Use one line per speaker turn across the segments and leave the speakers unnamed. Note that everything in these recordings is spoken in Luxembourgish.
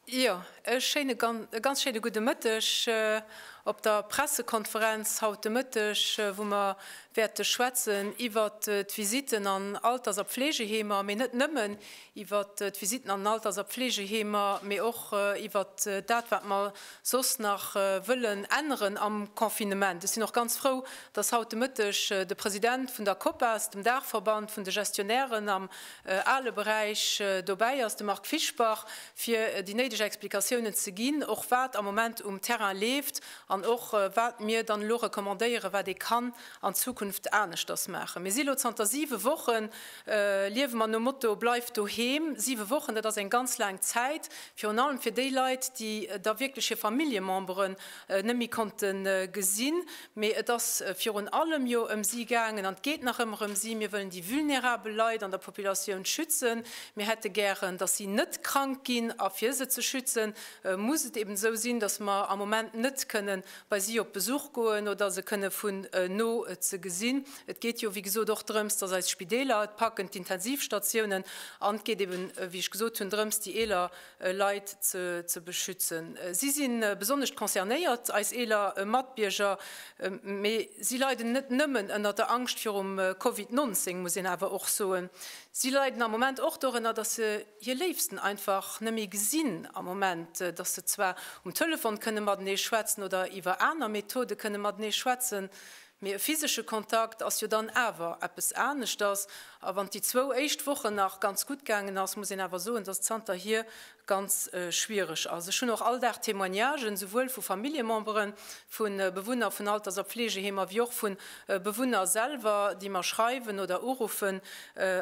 Jo, e schéine, e ganz schéine gudde Mëtteg op der Pressekonferenz haut de Mëtteg, wou mer wäerte schwätzen iwwert d'Visitten an Alters a Pfleegeheemer, mee net nëmmen iwwer d'Visitten an den Alters a Pfleegeheemer, mee och iwwer dat, wat mer soss nach wëllen änneren am Confinement. Ech sinn och ganz frou, dass haut de Mëtteg de President vun der Copas, dem Daachverband vun de Gestionnairen am ale Beräich, dobäi ass, de Marc Fischbach, fir déi néideg Explikatiounen ze ginn, och wat am Moment um Terrain leeft an och wat mir dann elo recommandéieren, wat ee kann an Zukunft aneschters maachen. Mir si elo zanter siwe Wochen Liewe mer nom Motto Bleif doheem. Siwe Wochen, dat ass eng ganz laang Zäit, virun allem fir déi Leit, déi da wierklech hir Familljememberen net méi konnte gesinn. Mee et ass virun allem jo ëm si gaangen an et geet nach ëmmer ëm si. Mir wëllen déi vulnerabel Leit an der Populatioun schützen. Mir hätte gären, dass si net krank ginn. A fir se ze schützen, muss et eben esou sinn, dass mer am Moment net kënne bei si op Besuch goen oder se kënne vun no ze gesinn. Et geet jo, wéi gesot, och drëms, dass eis Spideeler et packen, d'Intensivstatiounen, an et geet eben, wéi ech gesot hunn, drëms, déi eeler Leit ze beschützen. Si si besonnesch concernéiert, eis eeler Matbierger, mee si leiden net nëmmen ënnert der Angscht virum Covid 19, muss een awer och soen. Si leiden am Moment och dorënner, dass se hir Léifsten einfach net méi gesinn am Moment, dass se zwar um Telefon kënne matenee schwätzen oder iwwer aner Methode kënne matenee schwätzen, Mee e physesche Kontakt ass jo dann awer eppes aneschters. A wann déi zwou éischt Wochen nach ganz gutt gaangen ass, muss een awer soen, dass et zanterhier ganz schwiereg ass. Ech hunn och all Dag Témoignagen, souwuel vu Familljemembere vu Bewunner vun Alters a Fleegeheemer wéi och vu Bewunner selwer, déi mer schreiwen oder uruffen.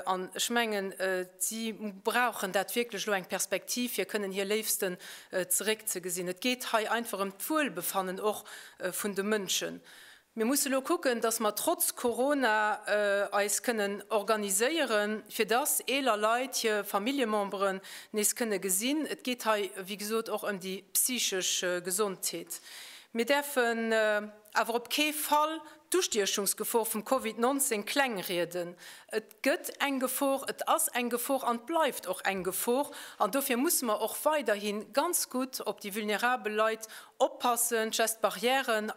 An ech mengen, si brauchen dat wierklech elo, eng Perspektiv, fir kënnen hir Léifsten zeréckzegesinn. Et geet hei einfach ëm d'Wuelbefannen och vun de Mënschen. Mir musse lo kucken, dass mer trotz Corona eis kënnen organiséieren, fir dass eeler Leit hir Familljememberen nees kënne gesinn. Et geet hei, wéi gesot, och ëm déi psychesch Gesondheet. Mir däerfen awer op kee Fall d'Ustiechungsgefor vum Covid 19 klengrieden. Et. gëtt eng Gefor, et ass eng Gefor an et bleift och eng Gefor. An dofir musse mer och weiderhi ganz gutt op déi vulnerabel Leit oppassen, d'Gestes barrières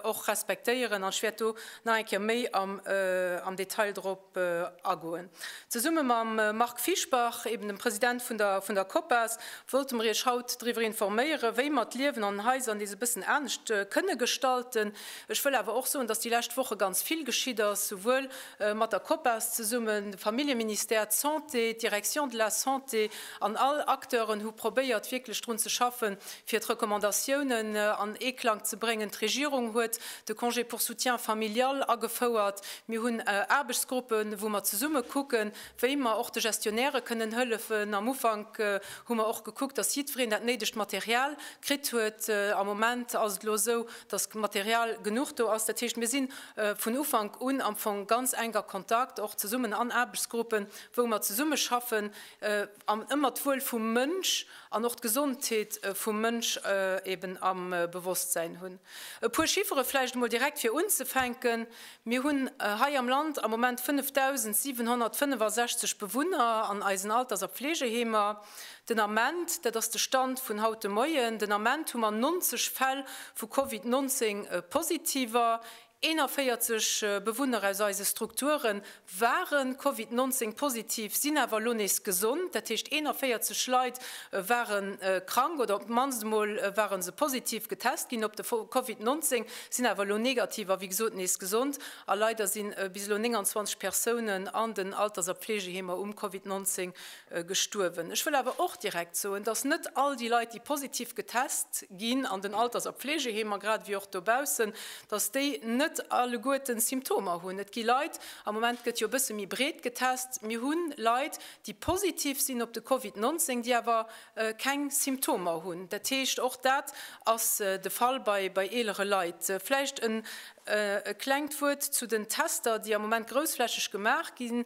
och respektéieren. An ech wäert do nach eng Kéier méi am Detail drop agoen. Zesumme mam Marc Fischbach, eben dem President vun der Copas, wollte mer Iech haut driwwer informéieren, wéi mer d'Liewen an den Haiser nees e bëssen anescht kënne gestalten. Ech wëll awer och soen, dass déi lescht Woche ganz vill geschitt ass, souwuel mat der Copas zesummen, de Familljeministère, d'Santé, d'Direction de la Santé an all Acteuren hu probéiert wierklech drun ze schaffen, fir d'Recommandatiounen an Eeklang ze bréngen. D'Regierung huet de Congé pour soutien familial agefouert. Mir hunn Aarbechtsgruppen, wou mer zesumme kucken, wéi mer och de Gestionnairë kënnen hëllefen. Am Ufank hu mer och gekuckt, dass jiddwereen dat néidegt Material kritt huet. Am Moment ass et elo esou, dass Material genuch do ass. Dat heescht, mir sinn vun Ufank un am Fong ganz enk a Kontakt, och zesummen an Aarbechtsgruppen, wou mer zesummeschaffen an ëmmer d'Wuel vum Mënsch an och d'Gesondheet vum Mënsch eeben am Bewosstsäin hunn. E puer Chiffere vläicht emol direkt fir unzefänken, Mir hunn hei am Land am Moment 5.765 Bewunner an eisen Alters a Pfleegeheemer. Den Ament, dat ass de Stand vun haut de Moien, den Ament hu mer 90 Fäll vu Covid 19 Positiver. 41 Bewunner aus eise Strukture ware Covid 19 positiv, sinn awer elo nees gesond. Dat heescht 41 Leit ware krank oder op d'mannst emol ware se positiv getest ginn op de Covid 19, sinn awer elo negativ a wéi gesot nees gesond. A leider si bis elo 29 Persounen an den Alters a Pfleegeheemer um Covid 19 gestuerwen. Ech wëll awer och direkt soen, dass net all déi Leit, déi positiv getest ginn an den Alters a Pflegeheemer grad ewéi och dobaussen, dass déi net alleguerten Symptomer hunn. Et gi Leit, am Moment gëtt jo e bësse méi breet getest, mir hu Leit, déi positiv sinn op de Covid 19, déi awer keng Symptomer hunn. Dat heescht, och dat ass de Fall bei eelere Leit. Vläicht e klengt Wuert zu den Tester, déi am Moment groussflächeg gemaach ginn.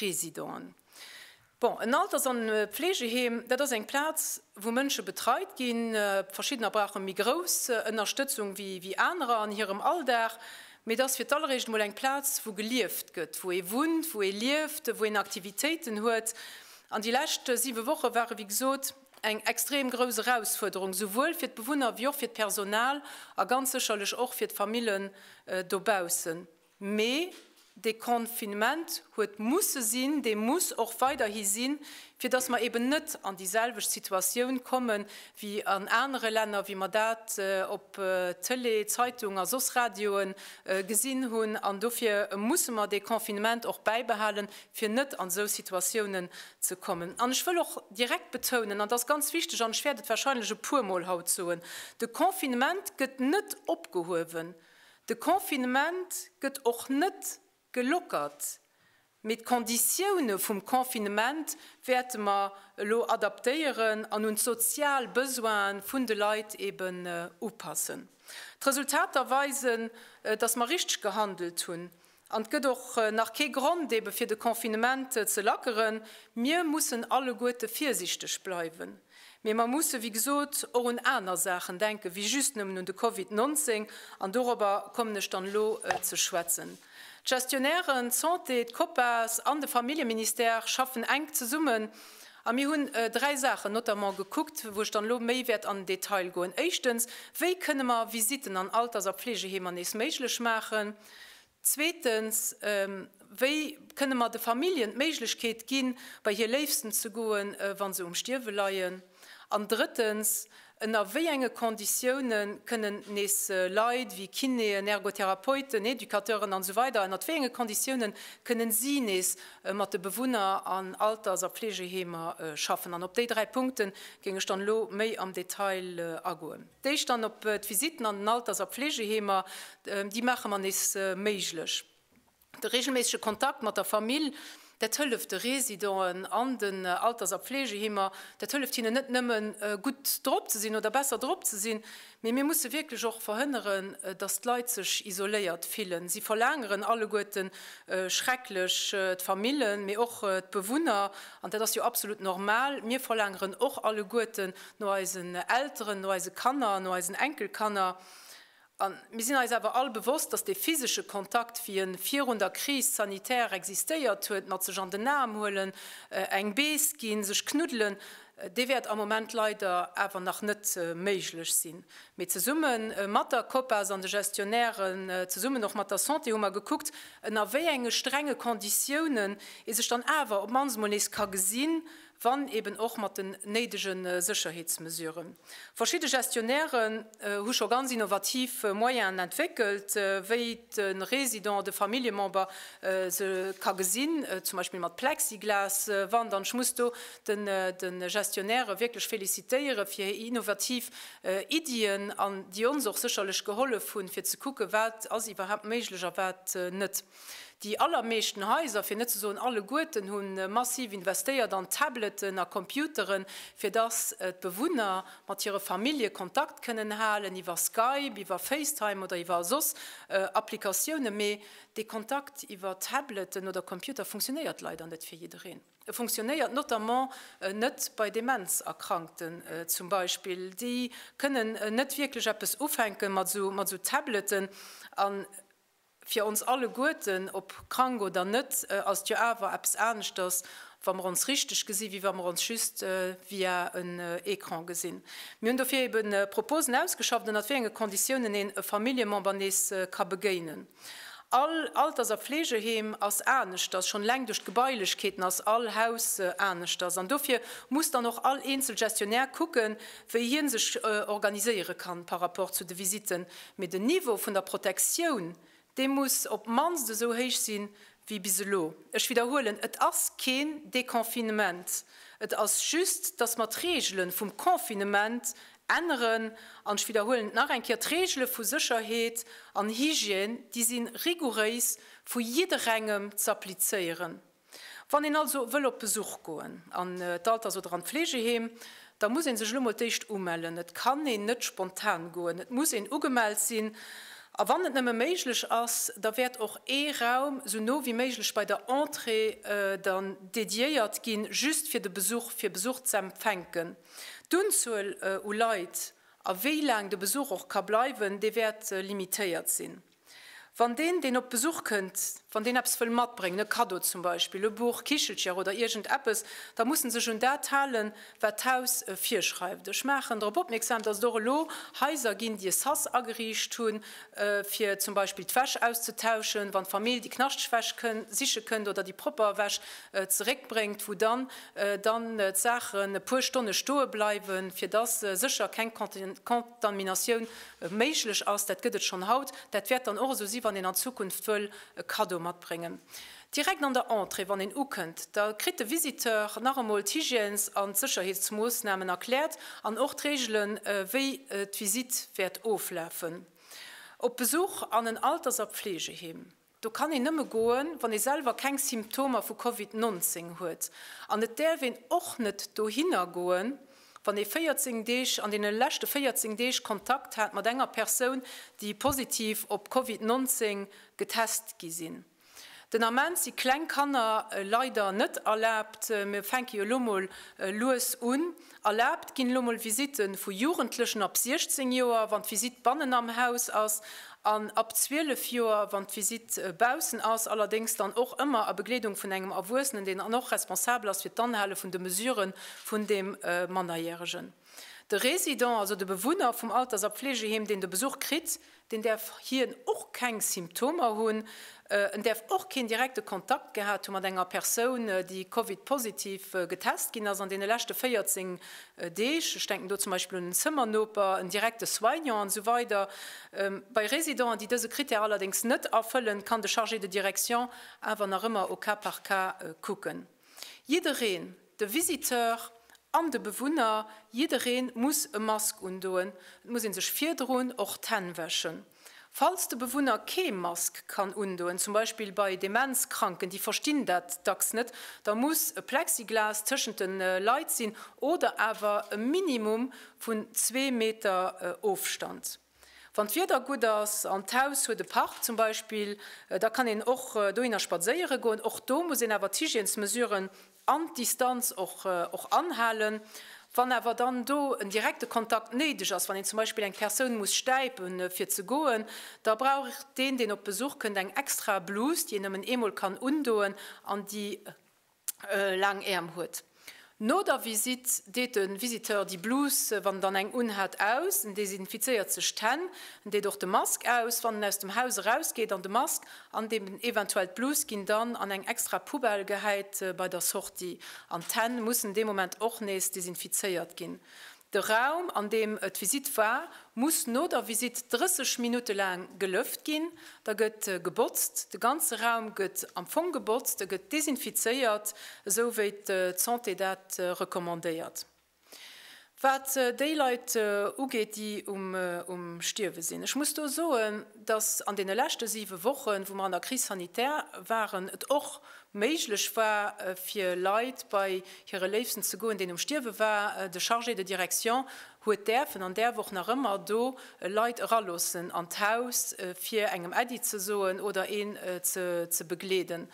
Residenten. Bon, en Alters an Pflegeheem, dat ass eng Plaz, wou Mënsche betreit ginn. Verschiddener brauche méi grouss Ënnerstëtzung wéi anerer an hirem Alldag. Mee et ass fir d'alleréischt emol eng Plaz, wou gelieft gëtt, wou ee wunnt, wou ee lieft, wou een Aktivitéiten huet. An déi lescht siwe Woche ware wéi gesot eng extrem grouss Erausfuerderung, souwuel fir d'Bewunner wéi och fir d'Personal a ganz sécherlech och fir d'Famillen dobaussen. Mee dee Confinement huet musse sinn, dee muss och weiderhi sinn, fir dass mer eben net an déi selwecht Situatioun komme wéi an anere Länner, wéi mer dat op Tëlee, Zeitung a soss Radioe gesinn hunn. An dofir musse mer dee Confinement och bäibehalen, fir net an esou Situatiounen ze kommen. An ech wëll och direkt betounen, an dat ass ganz wichteg an ech wäert et warscheinlech e puermol haut soen, De Confinement gëtt net opgehuewen. De Confinement gëtt och net gelockert, mee d'Konditioune vum Confinement wäerte mer elo adaptéieren an un d'sozial Besoine vun de Leit eben upassen. D'Resultater weisen, dass mer richteg gehandelt hunn, An et gëtt och nach kee Grond ebe fir de Confinement ze lackeren. Mir mussen alleguerte virsichteg bleiwen. Mee mer musse wéi gesot och un aner Saachen denken, wéi just nëmmen un de Covid 19. An dorobber kommen ech dann elo ze schwätzen. D'Gestionnairen, d'Santé, d'Copas an de Familljeministère schaffen enk zesummen. A mir hunn dräi Saachen notamment gekuckt, wou ech dann elo méi wäert an den Detail goen. Éischtens, wéi kënne mer Visitten an Alters a Fleegeheemer nees méiglech maachen? Zweetens, Wéi kënne mer de Familljen d'Méiglechkeet ginn, bei hir Léifsten ze goen, wa se um Stierwe leien? An drëttens, Ënner wéi enge Konditioune kënnen nees Leit wéi Kinéen, Ergotherapeuten, Educateuren an esou weider, ënnert wéi enge Konditioune kënne si nees mat de Bewunner an Alters a Fleegeheemer schaffen? An op déi dräi Punkte géing ech dann elo méi am Detail agoen. D'éischt dann op d'Visitten an den Alters a Pflegeheemer, déi maache mer nees méiglech. De reegelméissege Kontakt mat der Famill, dat hëlleft de Residenten an den Alters a Pflegeheemer, dat hëlleft hinnen net nëmme gutt drop ze sinn oder besser drop ze sinn, mee mir musse wierklech och verhënneren, datt d'Leit sech isoléiert fillen. Si verlaangeren alleguerte schrecklech, d'Famillen, mee och d'Bewunner, an dat ass jo absolut normal, mir verlaangeren och alleguerten, no eisen Elteren, no eise Kanner, no eisen Enkelkanner. A mir sinn eis awer all bewosst, dass dee physesche Kontakt, wéi e virun der Crise sanitaire existéiert huet, mat sech an den Aarm huelen, eng Bees ginn, sech knuddelen, dee wäert am Moment leider awer nach net méiglech sinn. Mee zesumme mat der Copas an de Gestionnairen, zesummen och mat der Santé hu mer gekuckt, ënner wéi enge strenge Konditiounen ee sech dann awer op d'mannst emol nees ka gesinn, wann eben och mat den néidege Sécherheetsmesuren. Verschidde Gestionnairen hu scho ganz innovativ Moyenen entwéckelt, wéi de Resident de Familljemember se ka gesinn, zum Beispill mat Plexiglaswand. An ech muss do de Gestionnaire wierklech felicitéiere fir hir innovativ Iddien, an déi ons och sécherlech gehollef hunn, fir ze kucken, wat ass iwwerhaapt méiglech a wat net. Déi allermeeschten Haiser, fir net ze soen alleguerten, hu massiv investéiert an Tableten a Computeren, fir dass d'Bewunner mat hire Famillje Kontakt kënnen halen, iwwer Skype, iwwer FaceTime oder iwwer soss Applikatiounen. Mee dee Kontakt iwwer Tableten oder Computer funktionéiert leider net fir jiddereen. E funktionéiert notamment net bei Demenzerkrankten zum Beispill. Déi kënnen net wierklech eppes ufänke mat esou Tableten. Fir ons alleguerten, ob krank oder net, ass et jo awer eppes aneschters, wa mer ons richteg gesinn, wéi wa mer ons just via en Ecran gesinn. Mir hunn dofir eebe Proposen ausgeschafft, ënnert wéi enge Konditiounen een e Familljemember nees ka begéinen. All Alters a Fleegeheem ass aneschters, schonn eleng duerch d'Gebailechkeeten ass all Haus aneschters. An dofir muss dann och all eenzel Gestionnaire kucken, wéi hien sech organiséiere kann par rapport zu de Visitten, mee den Niveau vun der Protektioun, dee muss op d'mannst esou héich si wéi bis elo. Ech widderhuelen, et ass keen Deconfinement, et ass just, dass mer d'Regele vum Confinement änneren. An ech widderhuelen et nach eng Kéier, d'Regele vu Sécherheet an Hygiène, déi si rigouréis vu jidderengem z'applizéieren. Wann een also wëll op Besuch goen an d'Alters oder an d'Fleegeheem, da muss ee sech elo mol d'éischt umellen. Et kann een net spontan goen, et muss een ugemellt sinn. A wann et nëmme méiglech ass, da wäert och ee Raum sou no wéi méiglech bei der Entrée dann dediéiert ginn, just fir de Besuch, fir Besuch z'empfänken. D'Unzuel u Leit a wéi laang de Besuch och ka bleiwen, dee wäert limitéiert sinn. Wann deen, deen op Besuch kënnt, wann deen eppes wëll matbréngen, e Kaddo zum Beispill, e Buch, Kichelcher oder iergend eppes, da muss en sech un dat halen, wat d'Haus virschreift. Ech maachen drop opmierksam, dass et och elo Haiser ginn, déi e Sas ageriicht hunn, fir zum Beispill d'Wäsch auszetauschen, wann d'Famill déi knaschteg Wäsch siche kënnt oder déi propper Wäsch zeréckbréngt, wou dann dann d'Saachen e puer Stonne stoe bleiwen, fir dass sécher keng Contaminatioun méiglech ass, dat gëtt et schonn haut, dat wäert dann och esou si wann een an Zukunft wëll e Kaddo matbréngen. Direkt an der Entrée wann een ukënnt, da kritt de Visiteur nach emol d'Hygiènes an d'Sécherheetsmoossnamen erkläert an och d'Reegele wéi d'Visite wäert oflafen op Besuch an en Alters a Pfleegeheem. Do kann een nëmme goen, wann ee selwer keng Symptomer vu Covid 19 huet. An et däerf een och net dohinner goen, wann ee 14 Deeg, an deene leschte 14 Deeg Kontakt hat mat enger Persoun, déi positiv op Covid 19 getest gi sinn. Den Ament si kleng Kanner leider net erlaabt. Mir fänke jo elo mol lues un. Erlaabt ginn elo mol Visitte vu Jugendlechen ab 16 Joer, wann d'Visitt bannen am Haus ass, an ab 12 Joer, wann d'Visitt baussen ass, allerdéngs dann och ëmmer a Begleedung vun engem Erwuessenen, deen dann och responsabel ass fir d'Anhale vun de Mesurë vun deem Mannerjäregen. De Résident, also de Bewunner vum Alters a Pflegeheem, deen de Besuch kritt, deen däerf hien och keng Symptomer hunn, en däerf och keen direkte Kontakt gehat hu mat enger Persoun, déi Covid-positiv getest ginn ass an deene leschte 14 Deeg. Ech denken do zum Beispill un en Zëmmernoper, en direkte Soignant an esou weider. Bei Residenten, déi dëse Critère allerdéngs net erfëllen, kann de Chargé de direction awer nach ëmmer au cas par cas kucken. Jiddereen, de Visiteur an de Bewunner, jiddereen muss e Mask undoen. Et muss een sech virdrun och d'Hänn wäschen. Falls de Bewunner kee Mask kann undoen, zum Beispill bei Demenzkranken, déi verstinn dat dacks net, da muss e Plexiglas tëschent de Leit sinn oder awer e Minimum vun zwee Meter Ofstand. Wann d'Wieder gutt ass an d'Haus huet e Park zum Beispill, da kann een och dohinner spadséiere goen. Och do muss een awer d'Hygiènesmesuren an d'Distanz och anhalen. Wann awer dann do en direkte Kontakt néideg ass, wann een zum Beispill eng Persoun muss stäipe fir ze goen, da brauch deen, deen op Besuch kënnt, eng extra Blus, déi een nëmmen eemol kann undoen an déi, laang Äerm huet. No der Visitt deet de Visiteur déi Blus, wann en dann eng unhat, aus, en desinfizéiert sech d'Hänn, en deet och de Mask aus, wann en aus dem Haus erausgeet, an de Mask an déi eventuell d'Blus ginn dann an eng extra Poubelle gehäit bei der Sortie. An d'Hänn mussen dee Moment och nees desinfizéiert ginn. De Raum, an deem d'Visitt war, muss no der Visitt 30 Minutte laang gelëft ginn. Da gëtt gebotzt. De ganze Raum gëtt am Fong gebotzt, e gëtt desinfizéiert, esou wéi d'Santé dat recommandéiert. Wat déi Leit ugeet, déi um Stierwe sinn, ech muss do soen, dass an deene leschte siwe Wochen, wou mer an der Crise sanitaire waren, et och méiglech war fir Leit bei hire Léifsten ze goen, deen um Stierwe war. De Chargé de direction huet däerfen an däerf och nach ëmmer do Leit eraloossen an d'Haus, fir engem Äddi ze soen oder een ze begleeden.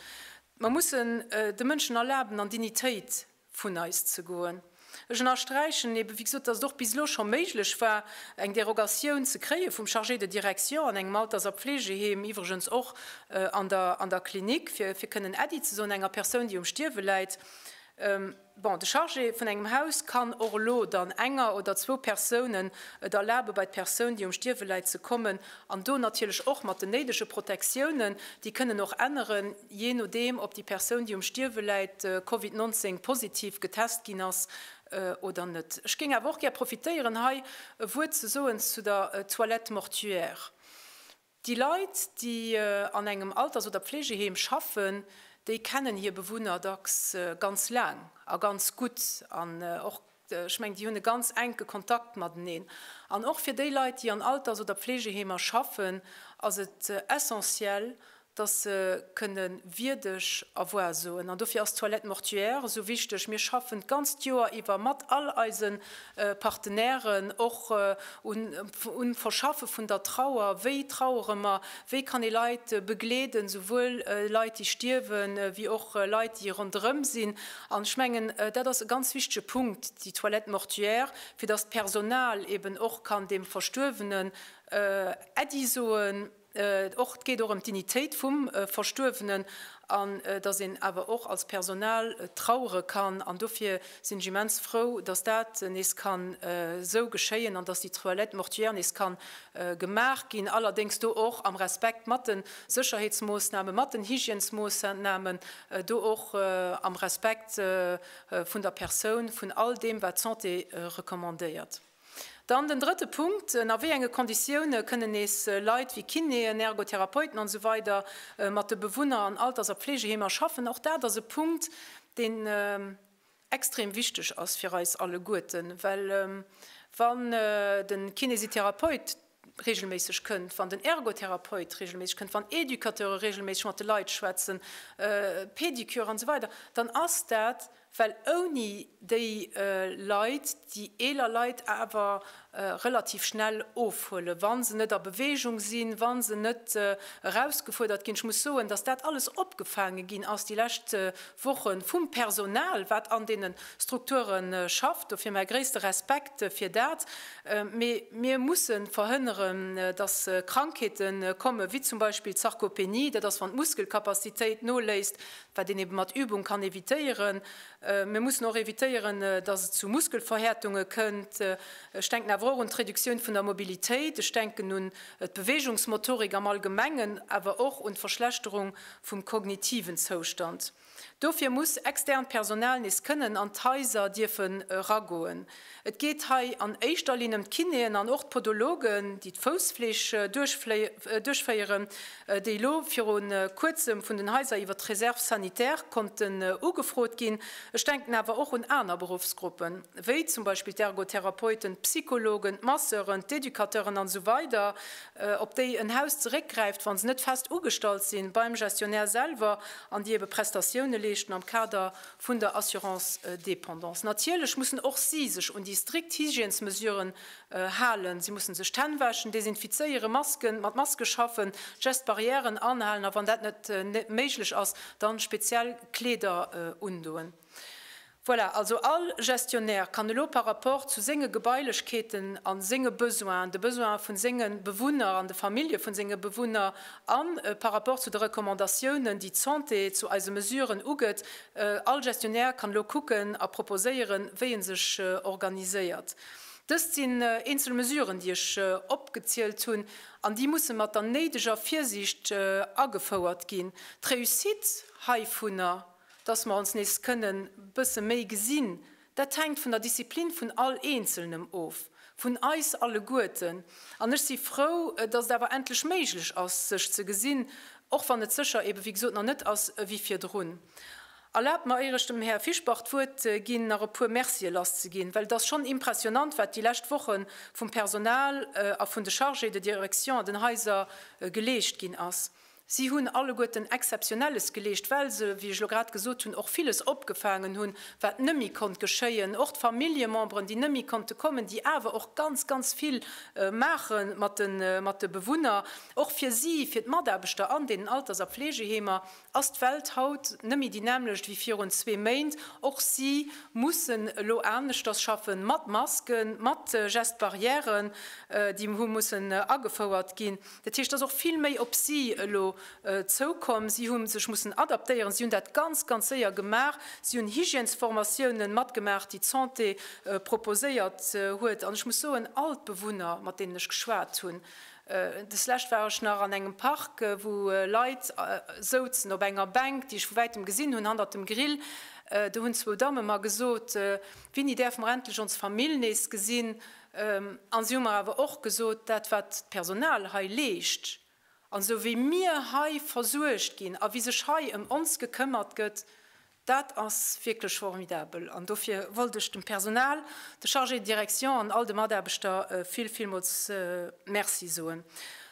Mer mussen de Mënschen erlaben an Dignitéit vun eis ze goen. Ech ënnersträichen ebe wéi gesot, datt et och bis elo scho méiglech war, eng Derogatioun ze kréie vum Chargé de direction an engem Alters a Pflegeheem, iwwregens och an der Klinik, fir kënnen Äddi ze soen enger Persoun, déi um Stierwe läit. Bon, de Chargé vun engem Haus kann och elo dann enger oder zwou Persounen et erlabe bei d'Persoun, déi um Stierwe läit, ze kommen an do natierlech och mat den néidege Protektiounen, déi kënnen och änneren. Jee nodeem, ob déi Persoun, déi um Stierwe läit, Covid 19 positiv getest ginn ass oder net. Ech géing awer och gär profitéieren, hei e Wuert ze soen zu der Toilette mortuaire. Déi Leit, déi an engem Alters oder Pflegeheem schaffen, déi kennen hir Bewunner dacks ganz laang a ganz gutt an och Ech mengen, déi hunn e ganz enke Kontakt mateneen. An och fir déi Leit, déi an Alters oder Pflegeheemer schaffen, ass et essentiel, dass se kënne wierdeg Erwuer soen. An dofir ass d'Toilette mortuaire esou wichteg. Mir schaffen d'ganzt Joer iwwer mat all eise Partenairen och um Verschaffe vun der Trauer. Wéi trauere mer? Wéi kann ee Leit begleeden, souwuel Leit, déi stierwen, wéi och Leit, déi ronderëm sinn? An ech mengen, dat ass e ganz wichtige Punkt, déi Toilette mortuaire, fir dass d'Personal eeben och kann deem Verstuerwenen Äddi soen, och, et geet och ëm d'Dignitéit vum Verstuerwenen, an dass een awer och als Personal trauere kann. An dofir sinn ech immens frou, dass dat nees kann esou geschéien an dass déi Toilette mortuaire nees ka gemaach ginn, allerdéngs do och am Respekt mat de Sécherheetsmoossnamen, mat den Hygiènesmoossnamen, do och am Respekt vun der Persoun, vun all deem, wat d'Santé recommandéiert. Dann den drëtte Punkt, Ënner wéi enge Konditioune kënnen nees Leit wéi Kinéen, Ergotherapeuten an esou weider mat de Bewunner an Alters a Pflegeheemer schaffen? Och dat ass e Punkt, deen extrem wichteg ass fir eis alleguerten, well wann de Kinesitherapeut reegelméisseg kënnt, wann den Ergotherapeut reegelméisseg kënnt, wann Educateure reegelméisseg mat de Leit schwätzen, Pedicure an esou weider, dann ass dat, well ouni déi Leit, déi eeler Leit awer relativ schnell ofhuelen, wa se net a Bewegung sinn, wa se net erausgefuerdert ginn. Ech muss soen, dass dat alles opgefaange ginn ass déi lescht Woche vum Personal, wat an deene Strukture schafft. Dofir mäi gréisste Respekt fir dat. Mee mir musse verhënneren, dass Krankheete kommen, wéi zum Beispill d'Sarkopenie, dat ass, wann d'Muskelcapacitéit noléisst, wat een eebe mat Übung kann evitéieren. Mir mussen och evitéieren, datt et zu Muskelverhärtunge kënnt. Ech denken awer och un d'Reduktioun vun der Mobilitéit. Ech denken un d'Beweegungsmotorik am Allgemengen, awer och un d'Verschlechterung vum kognitiven Zoustand. Dofir muss externt Personal nees kënnen an d'Haiser dierfen eragoen. Et geet hei an éischter Linn ëm d'Kinéen an och d'Podologen, déi d'Foussfleeg duerchféieren, déi elo viru Kuerzem vun den Haiser iwwer d'Reserve sanitaire konnten ugefrot ginn. Ech denken awer och un aner Beruffsgruppen, wéi zum Beispill d'Ergotherapeuten, d'Psychologen, d'Masseuren, d'Educateuren an esou weider, op déi en Haus zeréckgräift, wa se net fest ugestallt si beim Gestionnaire selwer an déi ebe Prestatioune leeschten am Kader vun der Assurance dépendance. Natierlech mussen och si sech un déi strikt Hygiènesmesuren halen. Si mussen sech d'Hänn wäschen, desinfizéieren, Masken, mat Maske schaffen, d'Gestes barrièren anhalen a wann dat net méiglech ass, dann speziell Kleeder undoen. Voilà, also all Gestionnaire kann elo par rapport zu senge Gebailechkeeten a senge Besoinen, de Besoinen vun senge Bewunner an de Famillje vun senge Bewunner, A par rapport zu de Recommandatiounen, déi d'Santé zu eise Mesuren ugëtt, All Gestionnaire kann elo kucken a proposéieren, wéi e sech organiséiert. Dëst sinn eenzel Mesuren, déi ech opgezielt hunn, an déi musse mat der néideger Virsiicht agefouert ginn. D'Réussite heivunner, dass mer ons nees kënnen bësse méi gesinn, Dat hänkt vun der Disziplin vun all Eenzelnem of, vun eis alleguerten. An ech si frou, datt et awer endlech méiglech ass, sech ze gesinn, och wann et sécher eebe wéi gesot nach net ass ewéi virdrun. Erlaabt mer, ier ech dem Här Fischbach d'Wuert ginn, nach e puer Mercië lasszeginn, well et ass schonn impressionnant, wat déi lescht Woche vum Personal a vun de Chargés de direction an den Haiser geleescht ginn ass. Si hunn alleguerten Exzeptionelles geleescht, well se, wéi ech lo grad gesot hunn, och villes opgefaangen hunn, wat net méi konnt geschéien. Och d'Familljememberen, déi net méi konnte kommen, déi awer och ganz, ganz vill maache mat de Bewunner. Och fir si, fir d'Mataarbechter an deenen Alters a Fleegeheemer ass d'Welt haut net méi déi nämmlecht wéi virun zwee Méint. Och si mussen elo aneschters schaffen, mat Masken, mat Gestes barrières, déi hu mussen agefouert ginn. Dat heescht, et ass och vill méi op si elo zoukomm. Si hu sech mussen adaptéieren. Si hunn dat ganz, ganz séier gemaach. Si hunn Hygiènesformatiounen matgemaach, déi d'Santé proposéiert huet. An ech muss soen, all d'Bewunner, mat deenen ech geschwat hunn, deslescht war ech nach an engem Park, wou Leit souzen op enger Bänk, déi ech vu wäitem gesinn hunn, hannert dem Grill, do hunn zwou Damme mer gesot, Winni, däerfe mer endlech ons Famill nees gesinn? A si hu mer awer och gesot, dat wat d'Personal hei leescht, an esou wéi mir hei versuergt ginn a wéi sech hei ëm ons gekëmmert gëtt, dat ass wierklech formidabel. An dofir wollt ech dem Personal, de Chargéë de direction an all de Mataarbechter vill, villmools Merci soen.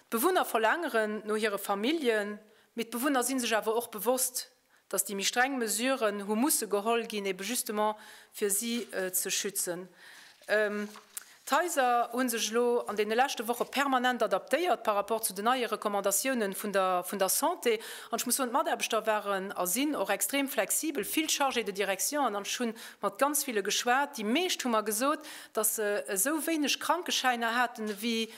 D'Bewunner verlaangeren no hire Familljen, mee d'Bewunner si sech awer och bewosst, dass déi méi streng Mesuren hu musse geholl ginn, ebe justement fir si ze schützen. D'Haiser hu sech elo an deene leschte Woche permanent adaptéiert par rapport zu den neie Recommandatiounen vun der Santé. An ech muss soen, d'Mataarbechter waren a sinn och extrem flexibel, vill Chargés de direction. An ech hu mat ganz ville geschwat, déi meescht hu mer gesot, dass se esou wéineg Krankeschäiner haten ewéi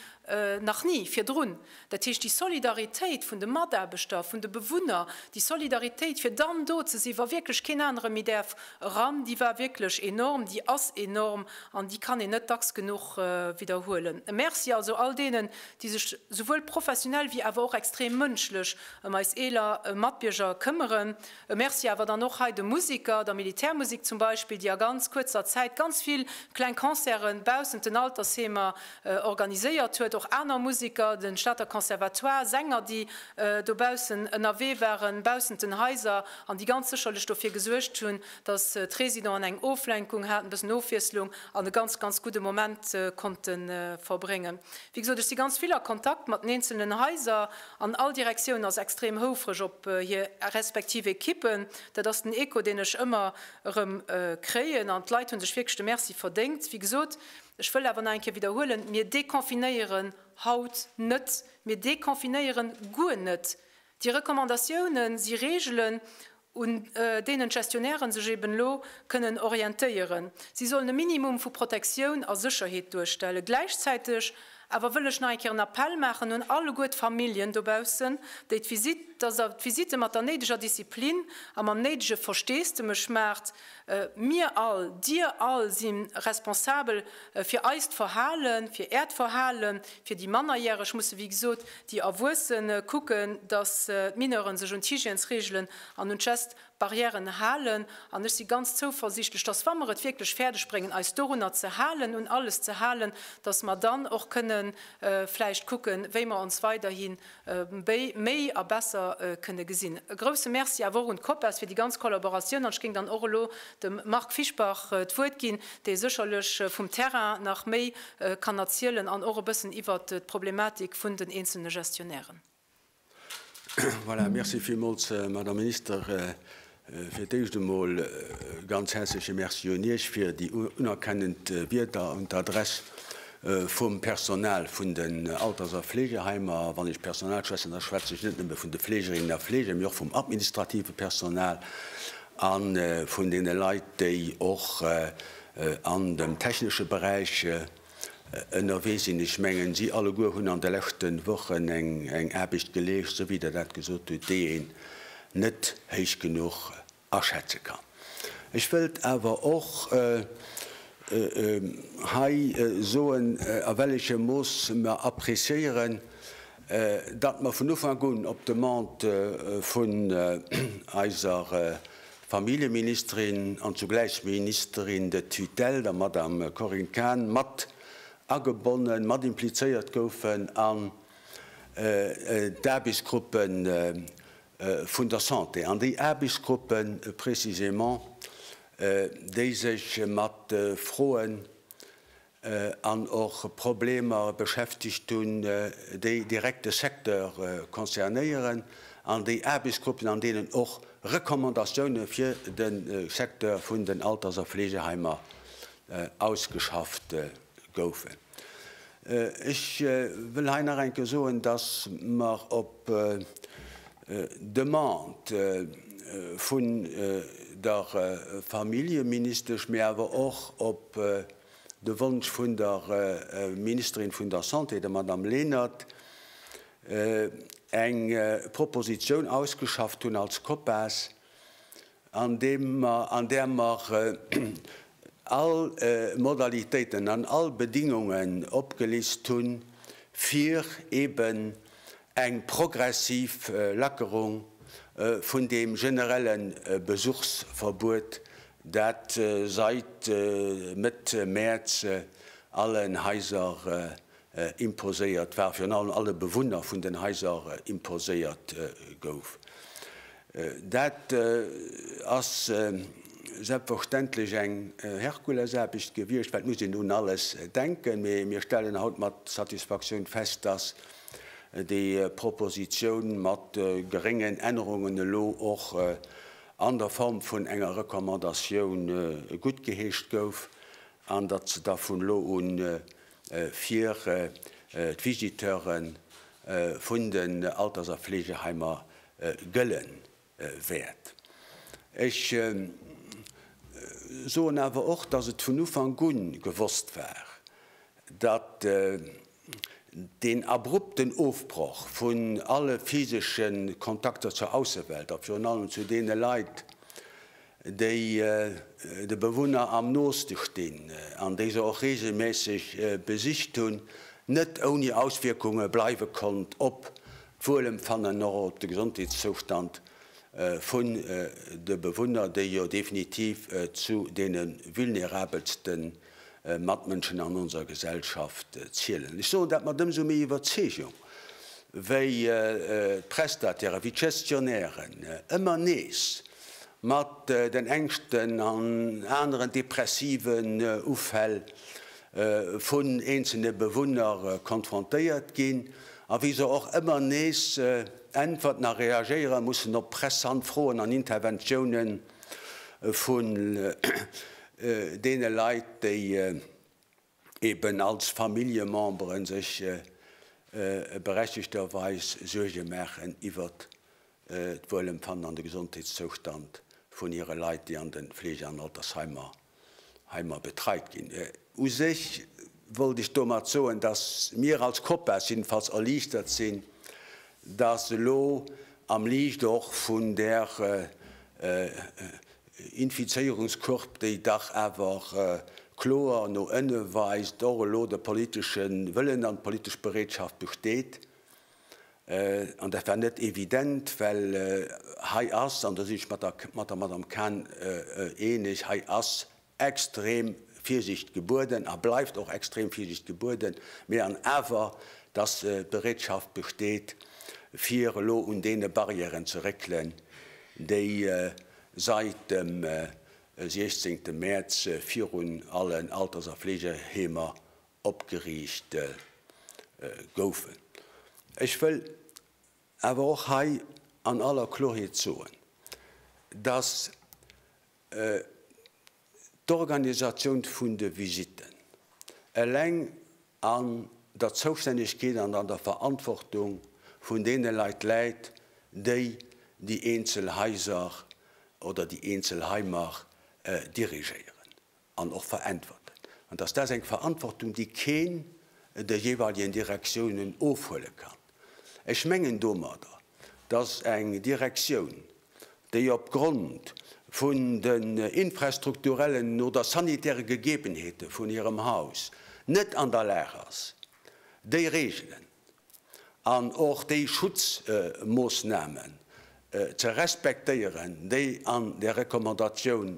nach ni virdrun. Dat heescht, déi Solidaritéit vun de Mataarbechter, vun de Bewunner, déi Solidaritéit, fir dann do ze sinn, wa wierklech keen anere méi däerf eran, déi war wierklech enorm, déi ass enorm an déi kann een net dacks genuch widderhuelen. E Merci also all deenen, déi sech souwuel professionell wéi awer och extrem mënschlech ëm eis eeler Matbierger këmmeren. E Merci awer dann och hei de Museker, der Militärmusek zum Beispill, déi a ganz kuerzer Zäit ganz vill kleng Concerte baussent den Altersheemer Organiséiert huet och aner Musiker, de Stater Conservatoire, Sänger, déi dobaussen ënnerwee waren, baussent den Haiser, an déi ganz sécherlech dofir gesuergt hunn, datt d'Residenten eng Oflenkung haten, e bëssen Ofwiesslung an e ganz, ganz gudde Moment konnte verbréngen. Wéi gesot, ech si ganz vill a Kontakt mat den eenzelnen Haiser an all Direktioun ass extrem houfreg op hir respektiv Ekippen. Dat ass den Echo, deen ech ëmmer erëm kréien an d'Leit hu sech wierklech de Merci verdéngt, wéi gesot. Ech wëll awer nach eng Kéier widderhuelen, Mir deconfinéieren haut net, mir deconfinéieren guer net. Déi Recommandatioune si Reegelen, un deenen d'Gestionnairen sech eben elo kënnen orientéieren. Si sollen e Minimum vu Protektioun a Sécherheet duerstellen. Gläichzäiteg Awer wëll ech nach eng Kéier en Appell maachen un alleguer d'Familljen dobaussen, déi d'Visitt, dass der d'Visitte mat der néideger Disziplin a mam néidege Versteesdemech maacht. Mir all, Dir all si responsabel fir eist Verhalen, fir Äert Verhalen, fir déi Mannerjäreg musse wéi gesot déi Erwuessen kucken, dass d'Mineure sech un d'Hygiènesreegelen an un d'Geste Barrièren halen, an ech si ganz zouversiichtlech, dass wa mer et wierklech fäerdeg bréngen eis dorunner ze halen, un alles ze halen, dass mer dann och kënne vläicht kucken, wéi mer ons weiderhi méi a besser kënne gesinn. E grouse Merci awer och un d'Copas fir déi ganz Kollaboratioun. An ech géing dann och elo dem Marc Fischbach d'Wuert ginn, dee sécherlech vum Terrain nach méi kann erzielen an och e bëssen iwwert d'Problematik vun den eenzelne Gestionnairen.
Voilà, merci villmools, Madame Minister. Fir d'éischt emol e ganz häerzleche Merci un Iech fir déi unerkennend Wierder un d'Adress vum Personal vun den Alters a Fleegeheimer. A wann ech Personal schwätzen, da schwätze ech net nëmme vun de Fleegerinnen a Fleeger, mee och vum administrative Personal a vun deene Leit, déi och an dem technesche Beräich ënnerwee sinn. Ech mengen, si alleguer hunn an de leschte Wochen eng Aarbecht geleescht, esou wéi Der dat gesot hutt, déi een net héich genuch aschätze kann. Ech wëllt awer och hei soen, a well echem Mooss mer appréciéieren, datt mer vun Ufank un op d'Demande vun eiser Familljeministerin an zugläich Ministerin de tutelle, der Madame Corinne Cahen, mat agebonnen, mat implizéiert goufen an d'Aarbechtsgruppe vun der Santé. An déi Aarbechtsgruppe précisément, déi sech mat Froen, an och Problemer beschäftegt hunn, déi direkt de Secteur concernéieren, an déi Aarbechtsgruppen, an deenen och Recommandatioune fir de Secteur vun den Alters a Fleegeheimer ausgeschafft goufen. Ech wëll hei nach eng Kéier soen, dass mer op Demande vun der Familljeministesch, mä awer och op De Wonsch vun der Ministerin vun der Santé, der Madame Lenert, eng Proposition ausgeschafft hunn als COPAS, an deem mer, an där mer all Modalitéiten an all Bedingungen opgelist hunn, fir eben eng progressiv Lackerung vun deem generelle Besuchsverbuet Dat seit Mëtt Mäerz allen Haiser imposéiert war, virun allem alle Bewunner vun den Haiser imposéiert gouf. Dat ass selbstverständlech eng Herkulesaarbecht gewiescht, wat muss een un alles denken, mee mir stellen haut mat Satisfaktioun fest, dass déi Propositioun mat geréngen Ännerungen elo och an der Form vun enger Recommandatioun guttgeheescht gouf an datt se da vun elo u fir d'Visiteure vun den Alters a Fleegeheimer gëlle wäert. Ech soen awer och, datt et vun Ufank u gewosst war, datt Deen abrupten Ofbroch vun alle physesche Kontakter zur Aussewelt a virun allem zu deene Leit, déi de Bewunner am nooste stinn an déi se och reegelméisseg besicht hunn, net ouni Auswierkunge bleiwe konnt op d'Wuelempfannen an och op de Gesondheetszoustand vun de Bewunner, déi jo definitiv zu deene vulnerabelsten Matmënschen an onser Gesellschaft zielen. Ech soen dat mat ëmsou méi Iwwerzeegung, wéi d'Prestatairen, wéi d'Gestionnairen ëmmer nees mat den Ängschten an aneren depressiven Ufäll vun eenzelne Bewunner konfrontéiert ginn a wéi se och ëmmer nees Äntwerten a reagéiere mussen op pressant Froen an Interventiounen, vun deene Leit, déi eeben als Familljememberen sech berechtegterweis Suerge maachen iwwert d'Wuelempfannen an de Gesondheetszoustand vun hire Leit, déi an de Fleege an Altersheimer hei mer betreit ginn. U sech wollt ech domat soen, dass mir als Copas jiddefalls erliichtert sinn, dass elo am Liicht och vun där Infizéierungscourbe, déi dach awer kloer no ënne weist, och elo de politesche Wëllen an d'politesch Bereetschaft besteet, An dat war net evident, well hei ass, an do sinn ech mat der Madamm Cahn eeneg, hei ass extrem Virsiicht gebueden a bleift och extrem Virsiicht gebueden, mee an awer, dass d'Bereetschaft besteet, fir elo un deene Barrièren ze réckelen, déi seit dem 16. Mäerz virun allen Alters a Fleegeheemer opgeriicht goufen. Ech wëll awer och hei an aller Kloheet soen, dass d'Organisatioun vun de Visitten eleng an der Zoustännegkeet an an der Verantwortung vun deene Leit läit, déi déi eenzel Haiser oder déi eenzel Heimer dirigéieren. an och veräntwerten, an dass dat eng Verantwortung, déi keen de jeweiligen Direktiounen ofhuele kann. Ech mengen domadder, dass eng Direktioun, déi opgrond vun den infrastrukturellen oder sanitäre Gegebenheete vun hirem Haus net an der Lag ass, déi Regelen, an och déi Schutzmoossnamen ze respektéieren, déi an der Recommandatioun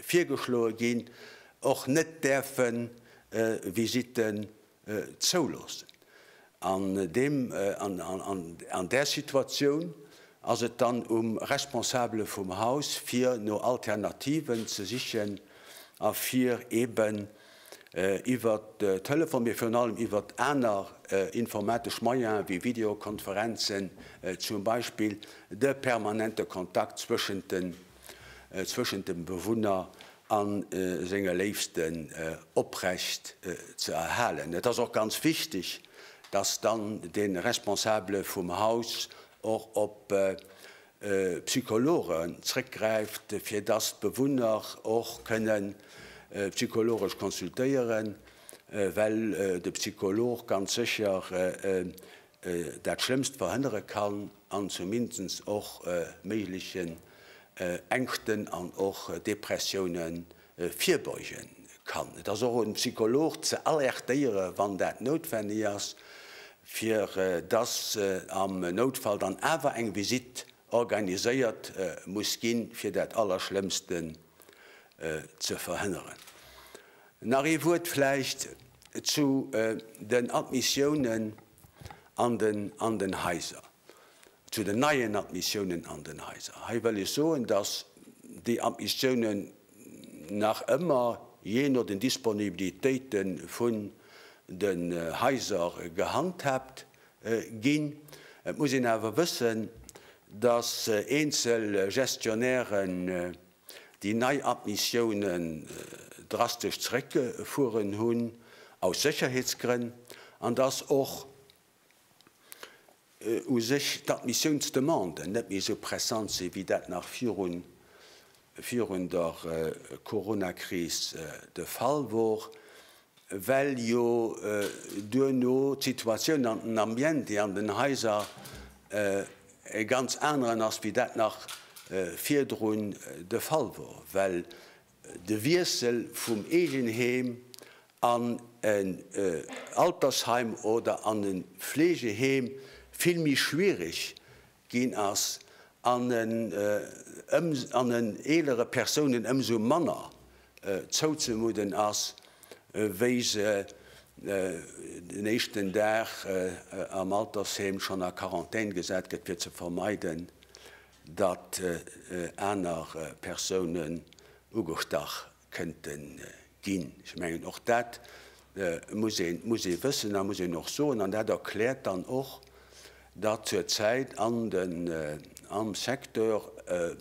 virgeschloe ginn, och net däerfe Visitten zouloossen. An deem, an där Situatioun ass et dann um Responsabele vum Haus, fir no Alternativen ze sichen a fir eeben, iwwer Telefon, mee virun allem iwwer aner informatesch Moyene wéi Videokonferenzen zum Beispill, de permanente Kontakt zwëschent dem Bewunner a senge Léifsten oprecht ze erhalen. Et ass och ganz wichteg, dass dann de Responsable vum Haus och op Psychologen zréckgräift, fir dass d'Bewunner och kënnen psychologesch consultéieren, well de Psycholog ganz sécher dat Schlëmmst verhënnere kann an zumindest och méiglechen Ängschten an och Depressiounen virbeugen kann. Et ass och un Psycholog ze alertéieren, wann dat noutwenneg ass, fir dass am Noutfall dann awer eng Visitt organiséiert muss ginn, fir dat Allerschlëmmsten ze verhënneren. Nach ee Wuert vläicht zu den Admissiounen an den Haiser. Zu den neien Admissiounen an den Haiser. Hei wëll ech soen, dass déi Admissiounen nach ëmmer jee no den Disponibilitéite vun den Haiser gehandhaabt ginn. Et muss een awer wëssen, dass eenzel Gestionnairen déi nei Admissiounen drastesch zeréckgefueren hunn, aus Sécherheetsgrënn, an dass och u sech d'Admissiounsdemanden net méi esou pressant sinn, wéi dat nach virun der Coronakris de Fall wor, well jo duerno d'Situatioun an den Ambiente an den Haiser e ganz aneren ass, wéi dat nach virdrun de Fall wor, well De Wiessel vum Eegenheem an en Altersheim oder an e Fleegeheem vill méi schwiereg ginn ass an en eelere Persounen ëmsou manner zouzemudden ass, wéi se den éischten Dag am Altersheem schonn a Quarantän gesat gëtt, fir ze vermeiden, datt aner Persounen ugestach kënnte ginn. Ech mengen, och dat muss ee wëssen a muss een och soen. An dat erkläert dann och, datt zur Zäit am Secteur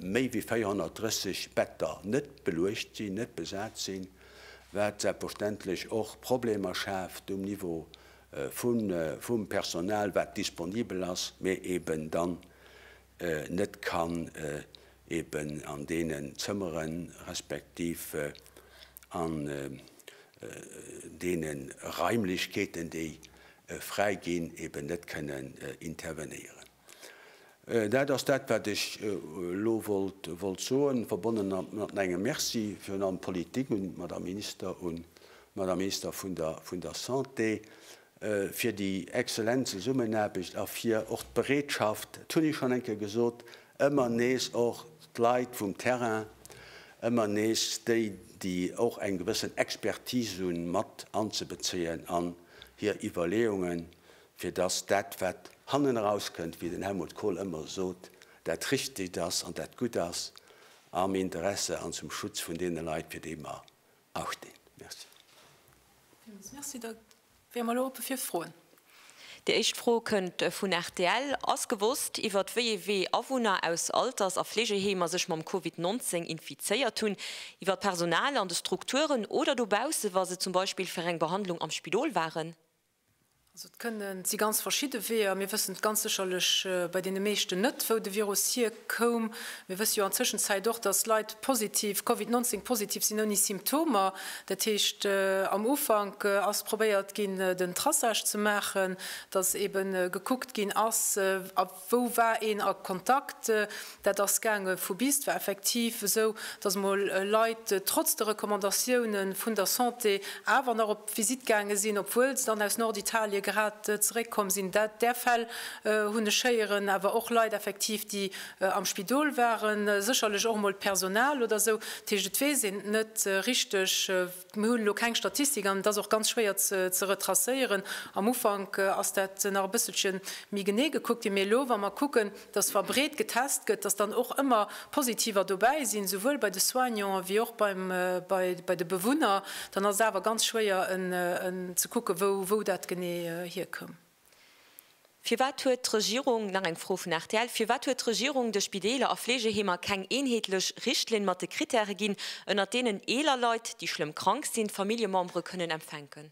méi wéi 430 Better net beluecht sinn, net besat sinn, wat selbstverständlech och Problemer schaaft um Niveau vum Personal, wat disponibel ass, mee eben dann net kann eben an deenen Zëmmeren, respektiv an deene Raimlechkeeten, déi fräi ginn, eben net kënnen intervenéieren. Dat ass dat, wat ech elo wollt soen, verbonnen mat mengem Merci virun allem un d'Politik, un d'Madame Minister, un d'Madame Minister vun der Santé, fir déi exzellent Zesummenaarbecht a fir och d'Bereetschaft, dat hunn ech schonn eng Kéier gesot, ëmmer nees och d'Leit vum Terrain, ëmmer nees déi, déi och eng gewëssen Expertise hunn, mat anzebezéien an hir Iwwerleeungen, fir dass dat, wat hannen erauskënnt, wéi den Helmut Kohl ëmmer sot, dat Richtegt ass an dat Gutt ass am Interesse an zum Schutz vun deene Leit, fir déi mer Achten. Merci. Villmools
Merci. Da wäre mer elo oppe fir Froen. Déi éischt
Fro kënnt vun rtl, Ass gewosst, iwwert wéi ee Wee Awunner aus Alters a Fleegeheemer sech mam Covid 19 infizéiert hunn? Iwwer d'Personal an de Strukturen oder dobausse, wa se zum Beispill fir eng Behandlung am Spidol waren? Also et
kënne si ganz verschidde Weeër. Mir wëssen ganz sécherlech bei deene meeschten net, wou de Virus hierkoum. Mir wësse jo an Tëschenzäit och, datt Leit positiv, Covid 19 positiv sinn ouni Symptomer. Dat heescht, am Ufank ass probéiert ginn, den Traçage ze maachen, datt eebe gekuckt ginn ass, Wou war een a Kontakt? Dat ass gaange vu bis. Et war effektiv esou, dass emol Leit trotz de Recommandatioune vun der Santé awer nach op d'Visitt gaange sinn, obwuel se dann aus Norditalie grad zeréckkomm sinn. Där Fäll hunn ech héieren. Awer och Leit effektiv, déi am Spidol waren. Sécherlech och emol d'Personal oder esou. Dat heescht, et weess een et net richteg. Mir hunn elo keng Statistik an et ass och ganz schwéier ze retracéieren. Am Ufank ass dat nach e bësselche méi genee gekuckt ginn, mee elo wa mer kucken, datt wa breet getest gëtt, datt dann och ëmmer Positiver dobäi sinn, souwuel bei de Soignanten wéi och bei de Bewunner, dann ass et awer ganz schwéier ze kucken, wou dat genee hierkënn.
Firwat huet d'Regierung, nach eng Fro vun rtl, firwat huet d'Regierung de Spideeler a Fleegeheemer keng eenheetlech Richtlinn mat de Kritäre ginn, ënnert deenen eeler Leit, déi schlëmm krank sinn, Familljemembere kënnen empfänken?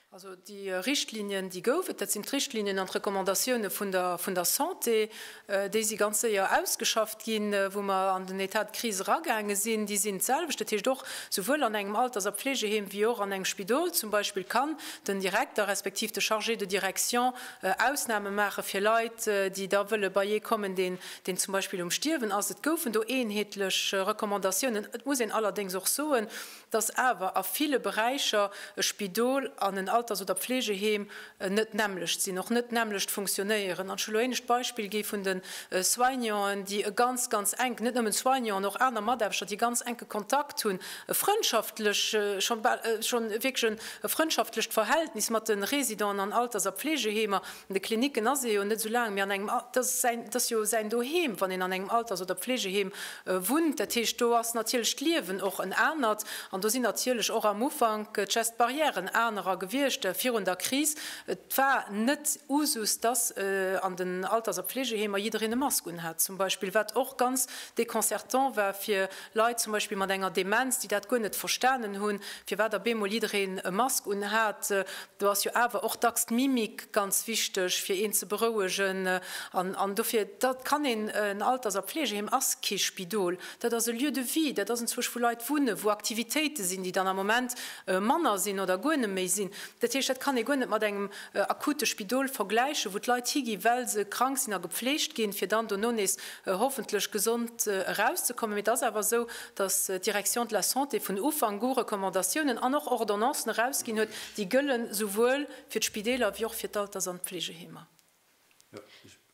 Also déi
Richtlinien, déi gouf et, dat sinn d'Richtlinien an d'Recommandatioune vun der Santé. déi si ganz séier ausgeschafft ginn, wou mer an den Etat de crise eragaange sinn, déi sinn d'selwecht. Dat heescht, och souwuel an engem Alters a Pflegeheem wéi och an engem Spidol zum Beispill kann den Direkter respektiv de Chargé de direction Ausname maache fir Leit, déi da wëlle beiee kommen, deen deen zum Beispill um Stierwen ass. Et goufen do eenheetlech Recommandatiounen. Et muss een allerdéngs och soen, dass awer a ville Beräicher e Spidol an en Alters oder Pflegeheem net nämmlecht sinn, och net nämmlecht funktionéieren. An ech hu elo éinescht d'Beispill gi vun de Soignanten, déi e ganz, ganz enk, net nëmmen d'Soignanten, och aner Mataarbechter, déi ganz enke Kontakt hunn, e frëndschaftlech, scho bal, scho wierklech e frëndschaftlech Verhältnis mat de Residenten an Alters a Pflegeheemer. An de Klinicken ass ee jo net esou laang méi an engem, dat ass jo säin Doheem, wann een an engem Alters oder Pflegeheem Wunnt, dat heescht do ass natierlech d'Liewen och en anert an do sinn natierlech och am Ufank just d'Barrièren anerer gewiescht virun der Kris. Et war net Usus, dass an den Alters a Pflegeheemer jiddereen e Mask un hat zum Beispill, wat och ganz déconcertant war fir Leit zum Beispill mat enger Demenz, déi dat guer net verstanen hunn, firwat op eemol jiddereen e Mask un hat. Do ass jo awer och dacks d'Mimik ganz wichteg, fir een ze berouegen. An dofir, dat kann een, en Alters a Pflegeheem ass kee Spidol, dat ass e Lieu de vie, dat ass entzwuesch, wou Leit wunnen, wou Aktivitéite sinn, déi dann am Moment manner sinn oder guer net méi sinn. Dat heescht, dat kann ee guer net mat engem akute Spidol vergläichen, wou d'Leit higinn, well se krank sinn a gepflegt ginn, fir dann dono nees hoffentlech gesond erauszekommen. Mee et ass awer esou, dass d'Direction de la Santé vun Ufank u Recommandatiounen an och Ordonnancen erausginn huet, déi gëllen esouwuel fir d'Spideeler wéi och fir d'Alters an d'Fleegeheemer.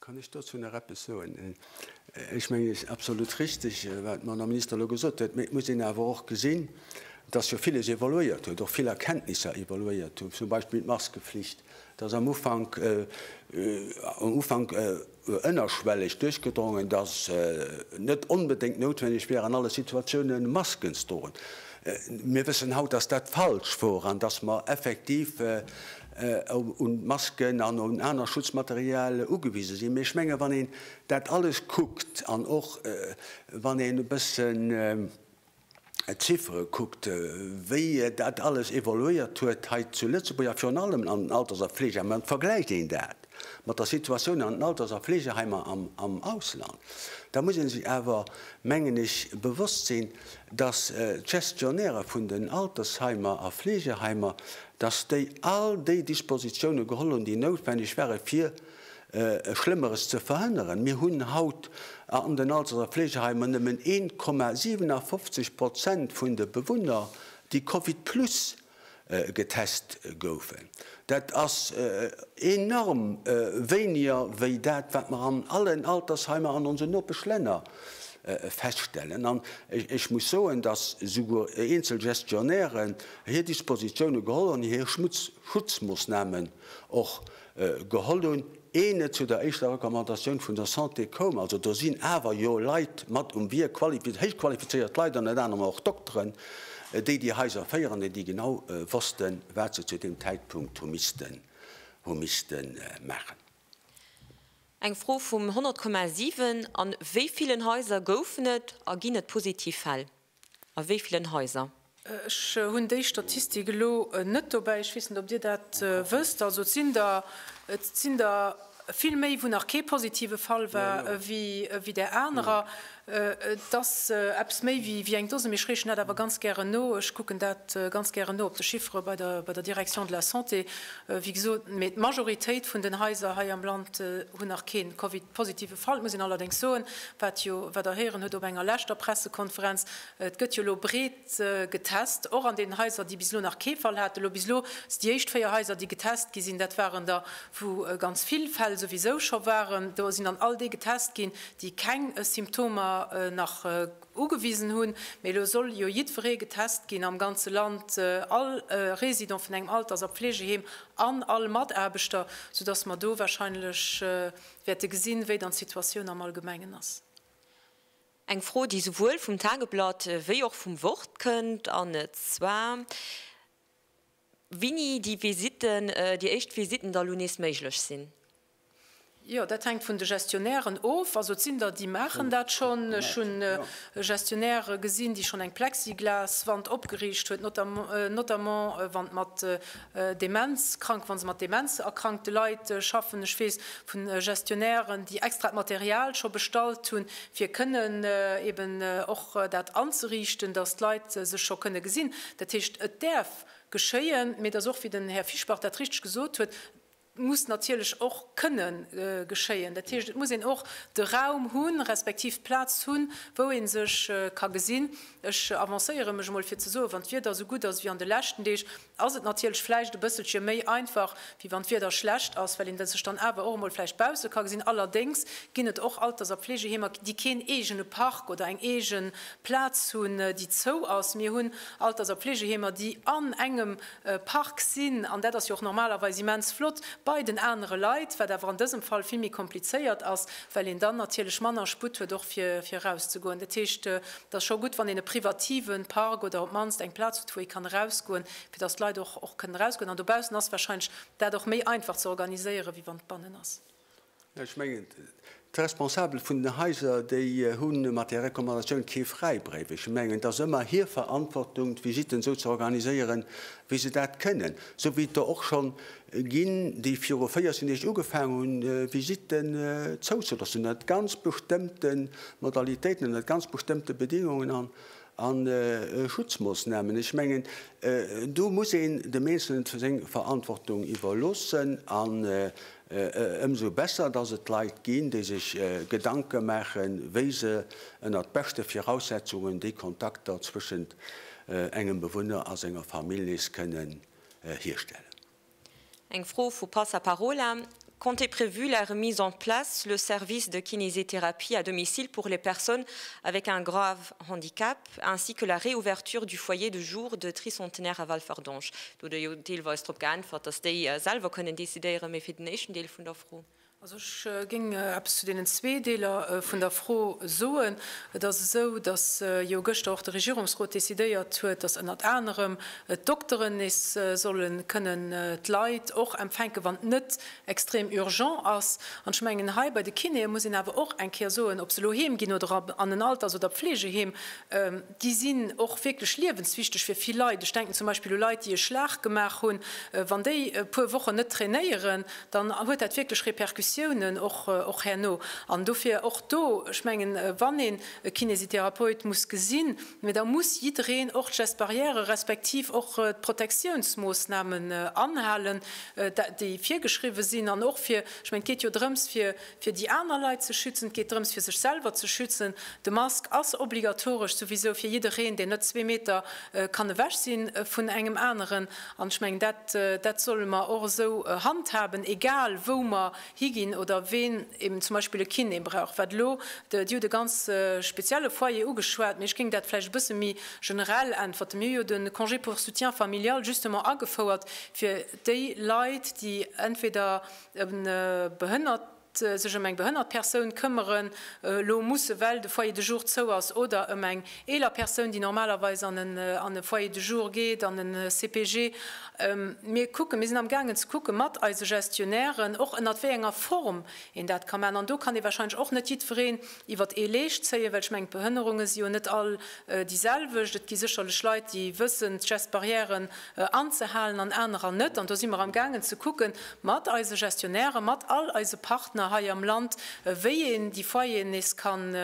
Kann ech dozou nach eppes soen? Ech mengen, et ass absolut richtig, wat d'Madame Minister elo gesot huet. Mee et muss een awer och gesinn, dass jo viles evoluéiert huet, och vill Erkenntnisser evoluéiert hunn, zum Beispill d'Maskeflicht, dass am Ufank, am Ufank, ënnerschwelleg duerchgedrongen, datt net onbedéngt noutwenneg wier an alle Situatioune Masken ze droen. Mir wëssen haut, datt dat falsch wor an datt mer effektiv un d'Masken an un aner Schutzmaterial ugewise sinn. Mee ech menge wann een dat alles kuckt an och wann een e bëssen, d'Chiffere kuckt, wéi dat alles evoluéiert huet hei zu Lëtzebuerg a virun allem an den Alters a Fleegeheim an vergläicht een dat mat der Situatioun an den Alters a Fleegeheimer am Ausland, da muss ee sech awer, mengen ech, bewosst sinn, dass d'Gestionnairë vun den Altersheimer a Fleegeheimer, dass déi all déi Dispositione geholl hunn, déi noutwenneg ware fir Schlëmmeres ze verhënneren. Mir hunn haut an den Alters a Fleegeheimer nëmmen 1,57 Prozent vun de Bewunner, déi Covid plus getest goufen. Dat ass enorm wéiniger wéi dat, wat mer an allen Altersheimer an onsen Nopeschlänner feststellen. An ech muss soen, dass souguer eenzel Gestionnairen hir Dispositioune geholl hunn, hir Schutzmoossnamen och Geholl hunn, ee net zu der éischter Recommandatioun vun der Santé koum. Also do sinn awer jo Leit mat um Wierk, qualifi, héich qualifizéiert Leit, ënnert anerem och Dokteren, déi déi Haiser féieren, an déi genau wossten, wat se zu deem Zäitpunkt hu missten, hu missten maachen.
Eng Fro vum 100,7, An wéi villen Haiser goufen et a ginn et positiv Fäll? A wéi villen Haiser? Ech hunn
déi Statistik elo net dobäi. Ech weess net, ob Dir dat wësst. Also et sinn der, et sinn der vill méi, wou nach kee positive Fall war, ewéi där anerer. Et ass eppes méi wéi eng Dose, mee ech reechen dat awer ganz gären no. Ech kucken dat ganz gären no op de Chiffere bei der, bei der Direction de la Santé, wéi gesot. Mee d'Majoritéit vun den Haiser hei am Land hunn nach kee Covid-positive. Falt, muss een allerdéngs soen, wat jo, wat Der héieren hutt op enger leschter Pressekonferenz, et gëtt jo elo breet getest, och an deenen Haiser, déi bis elo nach kee Fall haten. Elo bis elo si déi éischt véier Haiser, déi getest gi sinn, dat waren der, wou ganz vill Fäll souwisou scho waren. Do sinn dann all déi getest ginn, déi keng Symptomer nach ugewisen hunn. Mee elo soll jo jiddweree getest ginn am ganze Land, all Résident vun engem Alters a Pflegeheem an all Mataarbechter, soudass mer do wahrscheinlech, Wäerte gesinn, wéi dann d'Situatioun am Allgemengen ass.
Eng Fro, déi souwuel vum Tageblatt wéi och vum Wort kënnt, an zwar, Wini déi Visitten, déi éischt Visitten da lo nees méiglech sinn. Jo,
dat hänkt vun de Gestionnairen of. Also et sinn der, déi maachen dat schonn. Ech hunn e Gestionnaire gesinn, déi schonn eng Plexiglaswand opgeriicht huet, notamment wann et mat Demenzkrank, wa se mat demenzerkrankte Leit schaffen. Ech weess vu Gestionnairen, déi extra d'Material scho bestallt hunn, fir kënnen eben och dat anzeriichten, datt d'Leit sech scho kënne gesinn. Dat heescht, et däerf geschéien, mee et ass och, wéi den Här Fischbach dat richteg gesot huet, muss natierlech och kënne geschéien. Dat heescht, et muss een och de Raum hunn, respektiv d'Plaz hunn, wou ee sech ka gesinn. Ech avancéiere mech emol fir ze soen, wann d'Wieder esou gutt ass ewéi an de leschten Deeg, ass et natierlech vläicht e bësselche méi einfach, wéi wann d'Wieder schlecht ass, well een sech dann awer och emol vläicht bausse ka gesinn. Allerdéngs ginn et och Alters a Pflegeheemer, déi keen eegene Park oder eng eege Plaz hunn, déi zou ass. Mir hunn Alters a Pflegeheemer, déi an engem Park sinn, an dat ass jo och normalerweis immens flott, bei den anere Leit, wat awer an dësem Fall vill méi komplizéiert ass, well een dann natierlech manner Sputt huet och fir fir erauszegoen. Dat heescht, et ass scho gutt, wann een e privatieve Park oder op d'mannst eng Plaz huet, wou ee kann erausgoen, fir datt d'Leit och och kënnen erausgoen. An dobaussen ass warscheinlech dat och méi einfach ze organiséieren, wéi wann et bannen ass. Ech mengen,
d'Responsabel vun den Haiser, déi hu mat där Recommandatioun kee Fräibréif. Ech mengen, et ass ëmmer hir Verantwortung, d'Visitten esou ze organiséieren, wéi se dat kënnen, esou wéi et der och scho ginn, déi viru 14 Deeg ugefaangen hunn, Visitten zouzelassen, ënnert ganz bestëmmte Modalitéiten, ënnert ganz bestëmmte Bedingungen a Schutzmoossnamen. Ech mengen, do muss een dem Eenzelnen seng Verantwortung iwwerloossen. Ëmsou besser, dass et Leit ginn, déi sech Gedanke maachen, wéi se ënnert beschte Viraussetzungen déi Kontakter zwëschent engem Bewunner a senger Famill nees kënnen hierstellen.
Eng Fro vu Passaparola, Comptez prévu la remise en place le service de kinésithérapie à domicile pour les personnes avec un grave handicap? ainsi que la réouverture du foyer de jour de Tricentenaire à Walferdange. Do hutt Der jo deelweis drop geäntwert, dass déi selwer kënnen decidéieren. Mee fir den éischten Deel vun der Fro. Also ech
géing eppes zu deenen zwee Deeler vun der Fro soen. Et ass esou, dass jo gëschter och de Regierungsrot decidéiert huet, dass ënnert anerem d'Dokteren nees solle kënnen d'Leit och empfänken, wann net extrem urgent ass. An ech mengen, hei bei de Kinéë muss een awer och eng Kéier soen, ob se elo heem ginn oder an en Alters oder Pflegeheem, déi sinn och wierklech liewenswichteg fir vill Leit. Ech denken zum Beispill u Leit, déi e Schlag gemaach hunn. Wann déi e puer Wochen net trainéieren, dann huet dat wierklech Repercussiounen och herno. An dofir och do, ech mengen, wann een e Kinésitherapeut muss gesinn, Mee da muss jiddereen och d'Gestes barrières respektiv och d'Protektiounsmoossnamen anhalen, déi virgeschriwwen sinn. An och fir, ech mengen, et geet jo drëms, fir déi aner Leit ze schützen, et geet drëms, fir sech selwer ze schützen. De Mask ass obligatoresch souwisou fir jiddereen, deen net zwee Meter kann ewech si vun engem aneren. An ech mengen, dat solle mer och esou handhaben, egal wou mer higinn oder ween eben zum Beispill e Kiné brauch, wat elo, Dir hutt e ganz spezielle Foyer ugeschwat, mee ech géing dat vläicht e bësse méi generell äntwerten. Mir hu jo de Congé pour soutien familial justement agefouert fir déi Leit, déi entweder e behënnert, sech ëm eng behënnert Persoun këmmere lo mussen, well de Foyer de jour zou ass, oder ëm eng eeler Persoun, déi normalerweis an e Foyer de jour geet, an e CPG. Mir kucken, mir sinn am gaangen ze kucke mat eise Gestionnairen, och ënnert wéi enger Form een dat ka maachen. An do kann ee warscheinlech och net jiddwereen iwwert ee Leescht zéien, well ech mengen, d'Behënnerunge si jo net all déi selwecht. Et gi sécherlech Leit, déi wëssen, d'Gestes barrièren anzehalen an anerer net. An do si mer am gaangen ze kucke mat eise Gestionnairen, mat all eise Partner hei am Land, wéi een déi Foyeren nees kann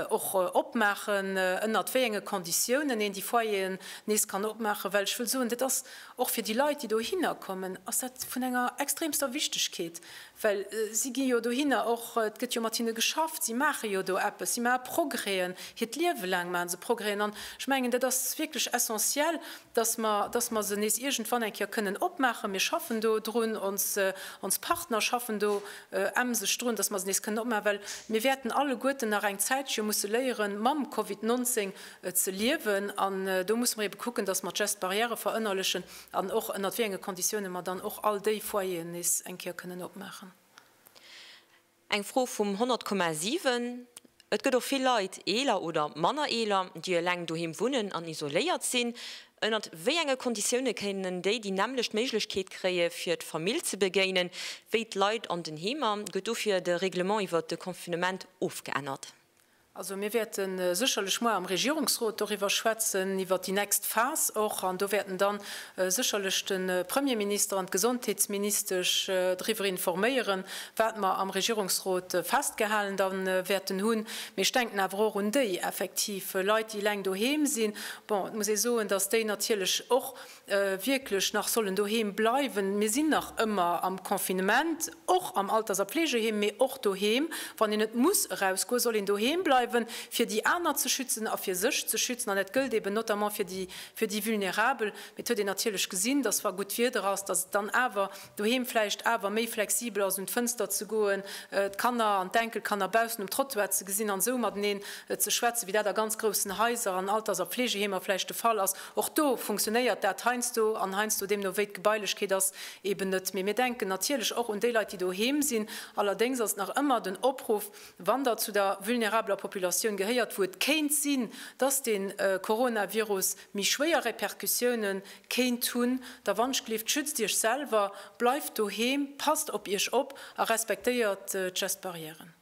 och opmaachen, ënnert wéi enge Konditiounen een déi Foyeren nees kann opmaachen, well ech wëll soen, dat ass och fir déi Leit, déi dohinner kommen, ass dat vun enger extremster Wichtigkeet, well si gi jo dohinner och, et gëtt jo mat hinne geschafft, si maache jo do eppes, si maache Progrèsen, hiert Liewe laang maache se Progrèsen. An ech mengen, dat ass wierklech essentiell, datt mer, datt mer se nees iergendwann eng Kéier kënnen opmaachen. Mir schaffen do drun, ons, ons Partner schaffen do emseg drun, datt mer se nees kënnen opmaachen, well mir wäerten alleguerten nach eng Zäitche musse léieren, mam Covid 19 ze liewen. An do musse mer eebe kucken, datt mer d'Gestes barrières verënnerlechen an och ënnert wéi enge Konditiounen mer dann och all déi Foyeren nees eng Kéier kënnen opmaachen.
Eng Fro vum 100 Komma 7, Et gëtt och vill Leit, eeler oder manner eeler, déi eleng doheem wunnen an isoléiert sinn. Ënnert wéi enge Konditioune kéinten déi déi nämmlecht Méiglechkeet kréie fir d'Famill ze begéinen, wéi d'Leit an den Heemer? Gëtt dofir de Reglement iwwert de Confinement ofgeännert? Also
mir wäerte sécherlech muer am Regierungsrot doriwwer schwätzen, iwwer déi nächst Phas och. An do wäerten dann sécherlech de Premierminister an d'Gesondheetsministesch driwwer informéieren, wat mer am Regierungsrot festgehalen da wäerten hunn. Mee ech denken awer och un déi effektiv Leit, déi eleng doheem sinn. Bon, et muss ee soen, dass déi natierlech och wierklech nach sollen doheem bleiwen, mir sinn nach ëmmer am Confinement, och am Alters a Pflegeheem, mee och doheem, wann een net muss erausgoen, soll een doheem bleiwen, fir déi aner ze schützen a fir sech ze schützen. An dat gëllt eben notamment fir déi Vulnerabel. Mee et huet een natierlech gesinn, dass wa gutt Wieder ass, dass et dann awer doheem vläicht awer méi flexibel ass, un d'Fënster ze goen, d'Kanner an d'Enkelkanner baussen um Trottoir ze gesinn an esou mateneen ze schwätzen, wéi dat a ganz groussen Haiser an Alters a Fleegeheemer vläicht de Fall ass. Och do funktionéiert dat heiansdo an heiansdo, deemno wéi d'Gebailechkeet ass, eben net méi. Mir denken natierlech och un déi Leit, déi doheem sinn. Allerdéngs ass et nach ëmmer den Opruff, wann Der zu der vulnerabeler Populatioun gehéiert, wou et kéint sinn, dass de Coronavirus, méi schwéier Repercussioune kéint hunn, da wann Schlift, schützt Iech selwer, bleift doheem, passt op Iech op a respektéiert d'Gestbarrièren.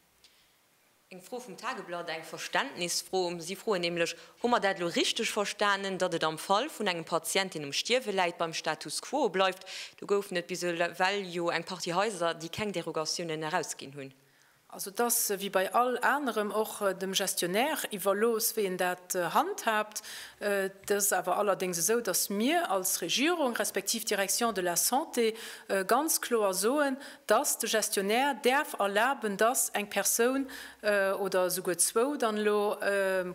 Eng Fro vum Tageblatt, eng Verständnisfro. Si froen nämlech, Hu mer dat elo richteg verstanen, datt et am Fall vun engem Patient, deen um Stierwe läit, beim Status quo bleift? Do goufen et bis ewell jo eng Partie Haiser, déi keng Derogatiounen erausginn hunn. Also et ass
wéi bei all anerem och dem Gestionnaire iwwerlooss, wéi en dat handhaabt. Et ass awer allerdéngs esou, datt mir als Regierung, respektiv d'Direction de la Santé ganz kloer soen, datt de Gestionnaire däerf erlaben, datt eng Persoun, oder esouguer zwou dann elo,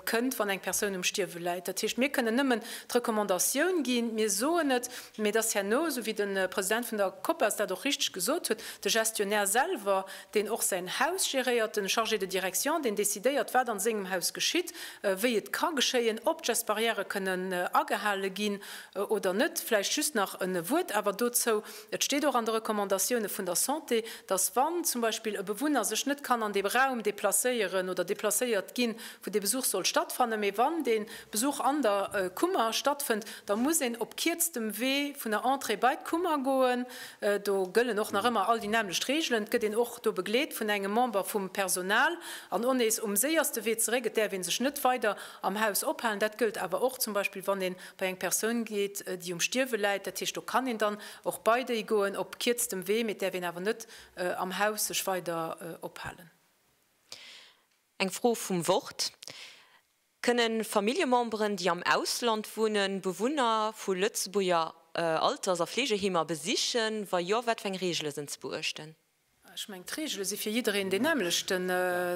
kënnt, wann eng Persoun um Stierwe läit. Dat heescht, mir kënnen nëmmen d'Recommandatioun ginn, mir soen et, mee et ass herno, esou wéi de President vun der Copas dat och richteg gesot huet, de Gestionnaire selwer, deen och säin Haus geréiert, den Chargé de direction, deen décidéiert wat an sengem Haus geschitt, wéi et ka geschéien, ob d'Gestbarrièrë kënnen agehale ginn oder net. Vläicht just nach en Wuert awer dozou, et steet och an de Recommandatioune vun der Santé, datt wann zum Beispill e Bewunner sech net kann an dee Raum déplacéieren oder déplacéiert ginn, wou dee Besuch soll stattfannen, mee wann dee Besuch an der Kummer stattfënnt, da muss een op kierztem Wee vun der Entrée bei d'Kummer goen. Do gëllen och nach ëmmer all déi nämmlecht Reegelen. Et gëtt een och do begleet vun engem Member vum Personal an och nees um séierste Wee zeréck. Et däerf ee sech net weider am Haus ophalen. Dat gëllt awer och zum Beispill, wann ee bei eng Persoun geet, déi um Stierwe läit. Dat heescht, do kann een dann och bei déi goen op kierztem Wee, mee et däerf een awer net am Haus sech weider ophalen.
Eng Fro vum Wort, Kënne Familljememberen, déi am Ausland wunnen, Bewunner vu Lëtzebuerger Alters a Fleegeheemer besichen? Wa jo, wat fir eng Reegele sinn ze beuechten? Ech mengen,
d'Reegele si fir jiddereen deen nämmlechten.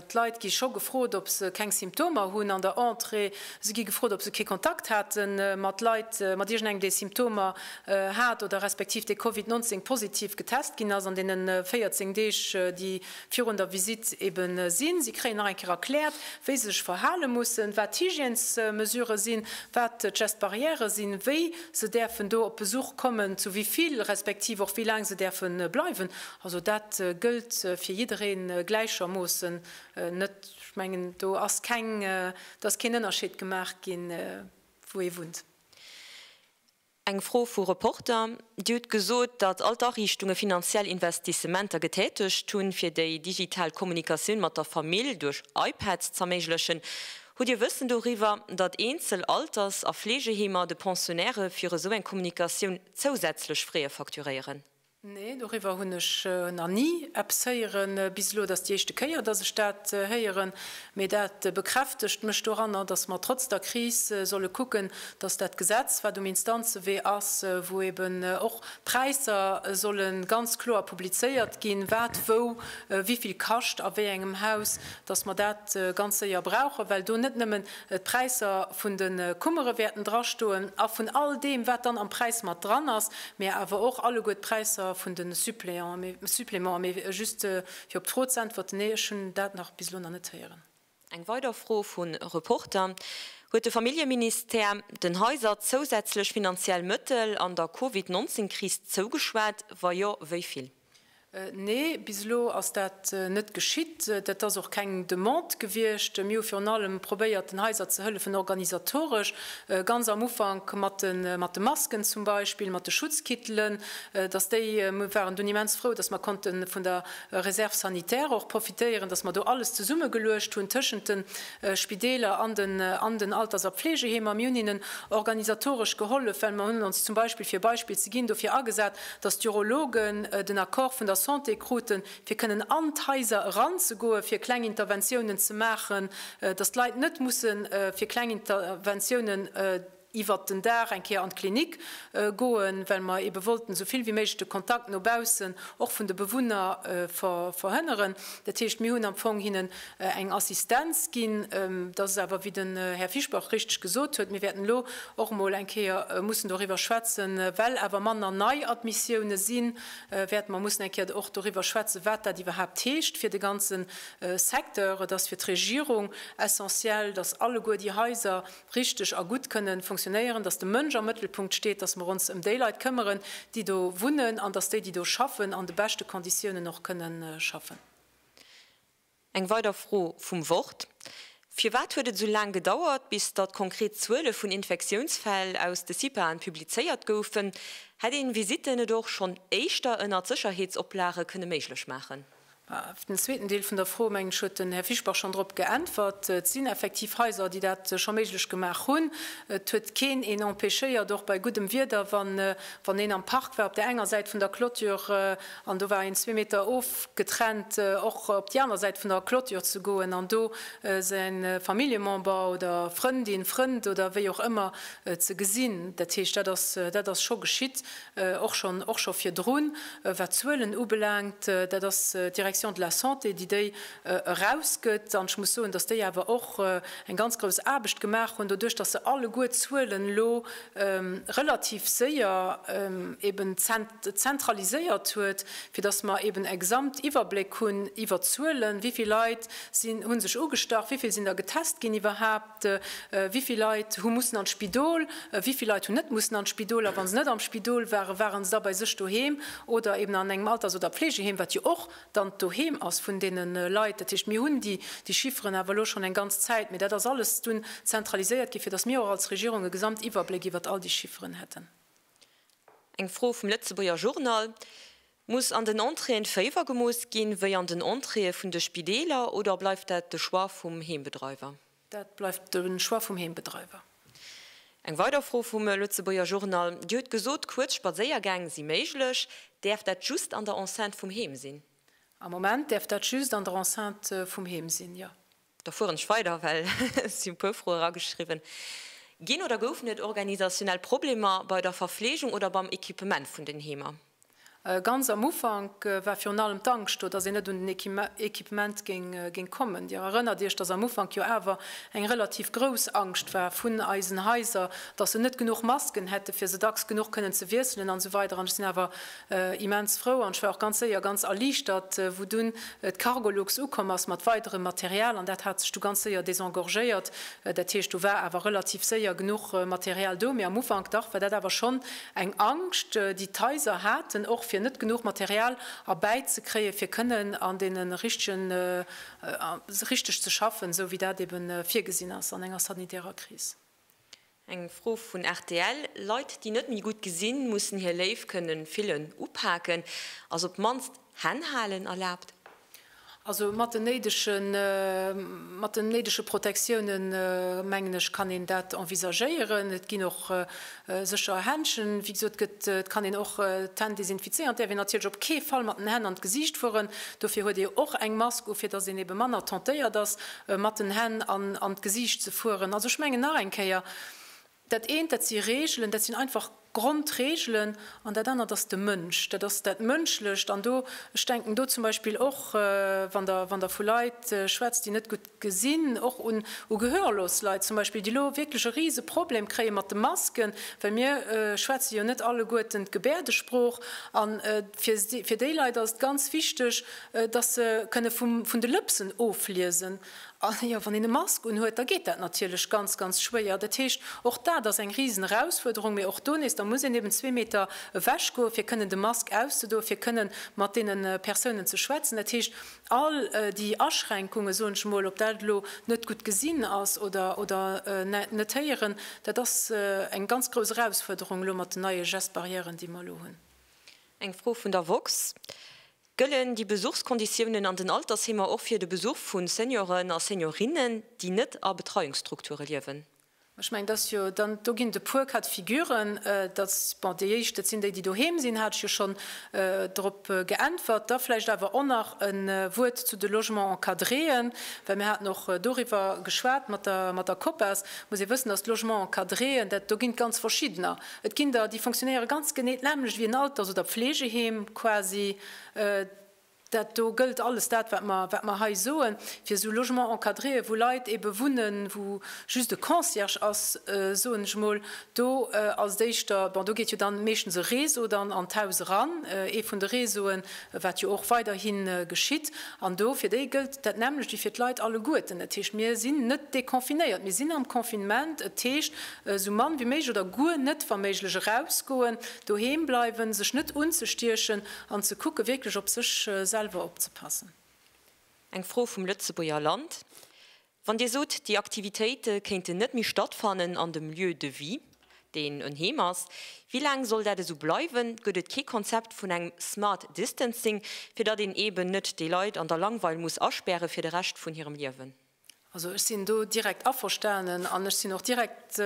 D'Leit gi scho gefrot, ob se keng Symptomer hunn an der Entrée. Se gi gefrot, ob se kee Kontakt hate mat Leit, mat iergendengem, dee Symptomer hat oder respektiv dee Covid 19 positiv getest ginn ass an deene 14 Deeg, déi virun der Visitt ebe sinn. Si kréien nach eng Kéier erkläert, wéi se sech verhale mussen, wat d'Hygiènesmesurë sinn, wat d'Gestes barrières sinn, wéi se däerfen do op Besuch kommen, zu wivill, respektiv och wéi laang se däerfe bleiwen. Also dat gëllt fir jidderee gläichermoossen. Net, ech mengen, do ass keng, do ass keen Ënnerscheed gemaach ginn, wou ee wunnt.
Eng Fro vu Reporter, Dir hutt gesot, datt all d'Ariichtunge finanziell Investissementer getätegt hunn, fir déi digital Kommunikatioun mat der Famill duerch iPads z'erméiglechen. Hutt Dir Wëssen doriwwer, datt eenzel Alters a Fleegeheemer de Pensionnairë fir esou eng Kommunikatioun zousätzlech Freeë facturéieren? Nee, doriwwer
hunn ech nach ni eppes héieren bis elo. Et ass déi éischte Kéier, dass ech dat héieren. Mee dat bekräftegt mech doranner, dass mer trotz der Kris solle kucken, dass dat Gesetz, wat um Instanzewee ass, wou eben och d'Präisser solle ganz kloer publizéiert ginn, wat wou wivill kascht a wéi engem Haus, dass mer dat ganz séier brauchen, well do net nëmmen d'Präisser vun de Kummere wäerten drastoen a vun all deem, wat dann am Präis mat dran ass, mä awer och alleguer d'Präisser vun de Supplémenten. Mä just fir op d'Fro z'äntwerten, Nee, ech hunn dat nach bis elo nach net héieren. Eng weider Fro
vun Reporter, Huet de Familljeministère den Haiser zousätzlech finanziell Mëttel an der Covid 19 Kris zougeschwat? Wa jo, wéi vill?
Nee, bis elo ass dat net geschitt. Dat ass och keng Demande gewiescht. Mir hu virun allem probéiert, den Haiser ze hëllefen organisatoresch, ganz am Ufank mat de Masken zum Beispill, mat de Schutzkittelen, dass déi, mir waren dunn immens frou, dass mer konnte vun der Réserve sanitaire och profitéieren, dass mer do alles zesummegeluecht hunn tëschent de Spideeler an den Alters a Pflegeheemer. Mir hunn hinnen organisatoresch gehollef, well mer hunn ons zum Beispill, fir e Beispill ze ginn, dofir agesat, datt d'Urologen den Accord vun der Santé kruten, fir kënnen an d'Haiser eranzegoe fir kleng Interventiounen ze maachen, datt d'Leit net musse fir kleng Interventiounen iwwert den Dag eng Kéier an d'Klinik goen, well mer eebe wollten esou vill wéi méiglech de Kontakt no baussen, och vun de Bewunner, verhënneren. Dat heescht, mir hunn am Fong hinnen. eng Assistenz ginn. Et ass awer, wéi den Här Fischbach richteg gesot huet, mir wäerten elo och emol eng Kéier mussen doriwwer schwätzen, well awer manner Neiadmissiounen sinn, wäerte mer mussen eng Kéier och doriwwer schwätzen, wat dat iwwerhaapt heescht fir de ganze Secteur. Et ass fir d'Regierung essentiell, dass alleguer déi Haiser richteg a gutt kënnen funktionéieren, dass de Mënsch am Mëttelpunkt steet, dass mer ons ëm déi Leit këmmeren, déi do wunnen, an dass déi, déi do schaffen, an de beschte Konditiounen och kënnen schaffen.
Eng weider Fro vum Wort, Firwat huet et esou laang gedauert, bis datt konkret Zuele vun Infektiounsfäll aus de CIPAen publizéiert goufen? Hätt een Visitten et och schonn éischter ënnert Sécherheetsoplage kënne méiglech maachen? Op den zweeten
Deel vun der Fro, mengen ech, huet den Här Fischbach schonn drop geäntwert. Et sinn effektiv Haiser, déi dat scho méiglech gemaach hunn. Et huet keen een empêchéiert, och bei guddem Wieder, wann een am Park war, op där enger Säit vun der Clôture, An do war een zwee Meter ofgetrennt, och op déi aner Säit vun der Clôture ze goen an do säin Familljemember oder Frëndin, Frënd oder wéi och ëmmer ze gesinn. Dat heescht, dat ass, dat ass scho geschitt, och schonn, och scho virdrun. Wat d'Zuelen ubelaangt, dat ass d'Direction de la Santé, déi déi erausgëtt. An ech muss soen, dass déi awer och eng ganz grouss Aarbecht gemaach hunn, doduerch dass se alleguer d'Zuelen elo relativ séier eeben zentraliséiert huet, fir dass mer eeben e Gesamtiwwerbléck hunn iwwer d'Zuelen, wéi vill Leit hu sech ugestach, wéi vill sinn der getest ginn iwwerhaupt, wéi vill Leit hu mussen an d'Spidol, wéi vill Leit hunn net mussen an d'Spidol a wa se net am Spidol waren, ware se da bei sech doheem oder eeben an engem Alters oder Pflegeheem, wat jo och dann d'Doheem ass vun deene Leit. Dat heescht, mir hunn déi Chifferen awer elo schonn eng ganz Zäit, mee dat ass alles dunn zentraliséiert ginn, fir datt mir och als Regierung e Gesamtiwwerbléck iwwert all déi Chifferen hätten.
Eng Fro vum Lëtzebuerger Journal, Muss an den Entréeën Féiwer gemooss ginn, wéi an den Entréeë vun de Spideeler, oder bleift dat de Choix vum Heembedreiwer? Dat bleift
de Choix vum Heembedreiwer. Eng
weider Fro vum Lëtzebuerger Journal, Dir hutt gesot, kuerz Spadséiergäng si méiglech. Däerf dat just an der Enceinte vum Heem sinn? Am Moment däerf
dat just an der Enceinte vum Heem sinn, jo. Da fueren ech weider,
well et si e puer Froe erageschriwwen ginn. Oder goufen et organisationell Problemer bei der Verfleegung oder beim Equipement vun den Heemer? Ganz am
Ufank war virun allem d'Angscht do, datt een net un den Equipement géing kommen. Dir erënnert Iech, datt am Ufank jo awer eng relativ grouss Angscht war vun eisen Haiser, datt se net genuch Masken hätten, fir se dacks genuch kënnen ze wiesselen an esou weider. An ech sinn awer immens frou an ech war och ganz séier ganz erliichtert, wou dunn d'Cargolux ukomm ass mat weiderem Material. An dat hat sech du ganz séier désengorgéiert. Dat heescht, do war awer relativ séier genuch Material do. Mee am Ufank, dach, war dat awer schonn Eng Angscht, déi d'Haiser haten, och fir net genuch Material erbäi ze kréien, fir kënnen an deene richtegen, richteg ze schaffen, esou wéi dat eeben virgesinn ass an enger sanitärer Kris. Eng
Fro vun rtl, Leit, déi net méi gutt gesinn, mussen hir Léif kënnen fillen, upaken, ass op d'mannst Hänn halen erlaabt? Also
mat den néidege Protectiounen, mengen ech, kann een dat envisagéieren. Et ginn och sécher Händschen, wéi gesot gëtt, et kann een och d'Hänn desinfizéieren. Et däerf een natierlech op kee Fall mat den Hänn an d'Gesiicht fueren. Dofir huet ee jo och eng Mask u, fir datt een ebe manner tentéiert ass, mat den Hänn an d'Gesiicht ze fueren. Also ech mengen nach eng Kéier, Dat eent, dat si Reegelen, dat sinn einfach Grondreegelen. An dat anert ass de Mënsch, dat ass dat Mënschlecht. An do, ech denken do zum Beispill och, wann Der, wann Der vu Leit schwätzt, déi net gutt gesinn, och un, u gehörlos Leit zum Beispill, déi elo wierklech e Riseproblem kréie mat de Masken, well mir schwätze jo net alleguerten d'Gebäerdesprooch. A fir, fir déi Leit ass et ganz wichteg, dass se kënne vum, vun de Lëpsen ofliesen. A jo, wann een e Mask unhuet, da geet dat natierlech ganz, ganz schwéier. Dat heescht, och dat ass eng risen Erausfuerderung. Mee och do nees, da muss een eben zwee Meter ewech goen, fir kënnen de Mask auszedoen, fir kënnen mat deene Persounen ze schwätzen. Dat heescht, all déi Aschränkungen, soen ech emol, ob dat elo net gutt gesinn ass oder, oder net héieren, dat ass eng ganz grouss Erausfuerderung elo mat den neie Geste barrièren, déi mer elo hunn. Eng Fro
vun der woxx. Gëllen déi Besuchskonditiounen an den Altersheemer och fir de Besuch vu Senioren a Seniorinnen, déi net a Betreiungsstrukture liewen? Ech mengen, dass jo
dann do ginn et e puer Cas de figure, dass, bon, déi éischt, dat sinn déi, déi doheem sinn, hat ech jo schonn drop geäntwert. Da vläicht awer och nach e Wuert zu de Logements encadréen, well mir haten och doriwwer geschwat mat der Copas. Et muss ee wëssen, dass d'Logements encadréen, dat, do ginn et ganz verschiddener. Et ginn der, déi fonctionnéiere ganz genee d'nämlecht wéi en Alters oder Pflegeheem quasi. Dat do gëllt alles dat, wat mer, wat mer hei soen, fir esou Logements encadréë wou Leit eebe wunnen, wou just e Concierge ass, soen ech emol. Do als d'éischter, bon do geet jo dann meeschtens e Réseau dann an d'Haus eran, ee vun de Réseauen, wat jo och weiderhi geschitt. An do, fir déi gëllt dat nämlecht wéi fir d'Leit alleguerten. Dat heescht, mir sinn net deconfinéiert, mir sinn am Confinement. Et heescht, Esou mann wéi méiglech oder guer net wa méiglech erausgoen, doheem bleiwen, sech net unzestiechen an ze kucken wierklech op sech selwer opzepassen. Eng
Fro vum Lëtzebuerger Land, Wann Dir sot, déi Aktivitéite kéinten net méi stattfannen an dem Lieu de vie, deen en Heem ass, wéi laang soll dat esou bleiwen? Gëtt et kee Konzept vun engem smart distancing, fir datt een eeben net déi Leit an der Langweil muss aspäre fir de Rescht vun hirem Liewen? Also ech sinn
do direkt averstanen an ech sinn och direkt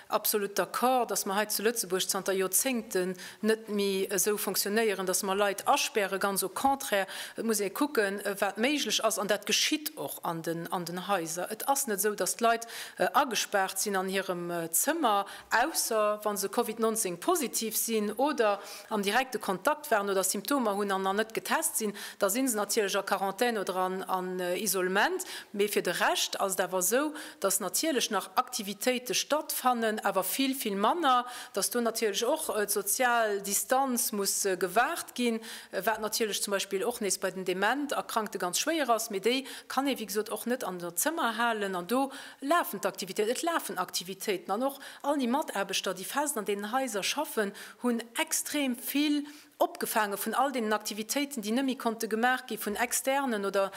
absolut d'accord, dass mer hei zu Lëtzebuerg zanter Joerzéngten net méi esou fonctionnéieren, dass mer Leit aspären. Ganz au contraire, et muss ee kucken, wat méiglech ass. An dat geschitt och an den Haiser. Et ass net esou, dass d'Leit agespaart sinn an hirem Zëmmer, ausser wa se Covid 19 positiv sinn oder am direkte Kontakt waren oder Symptomer hunn an an net getest sinn, da si se natierlech a Quarantän oder an Isolement. Mee fir de Rescht ass et awer esou, dass natierlech nach Aktivitéite stattfannen, awer vill, vill manner, dass do natierlech och d'sozial Distanz muss gewaart ginn, wat natierlech zum Beispill och nees bei den dement Erkrankte ganz schwéier ass. Mee déi kann ee wéi gesot och net an der Zëmmer halen an do lafen d'Aktivitéiten. Et lafen Aktivitéiten an och all déi Mataarbechter, déi fest an deenen Haiser schaffen, hunn extrem vill opgefaange vun all deenen Aktivitéiten, déi net méi konnte gemaach gi vun Externen oder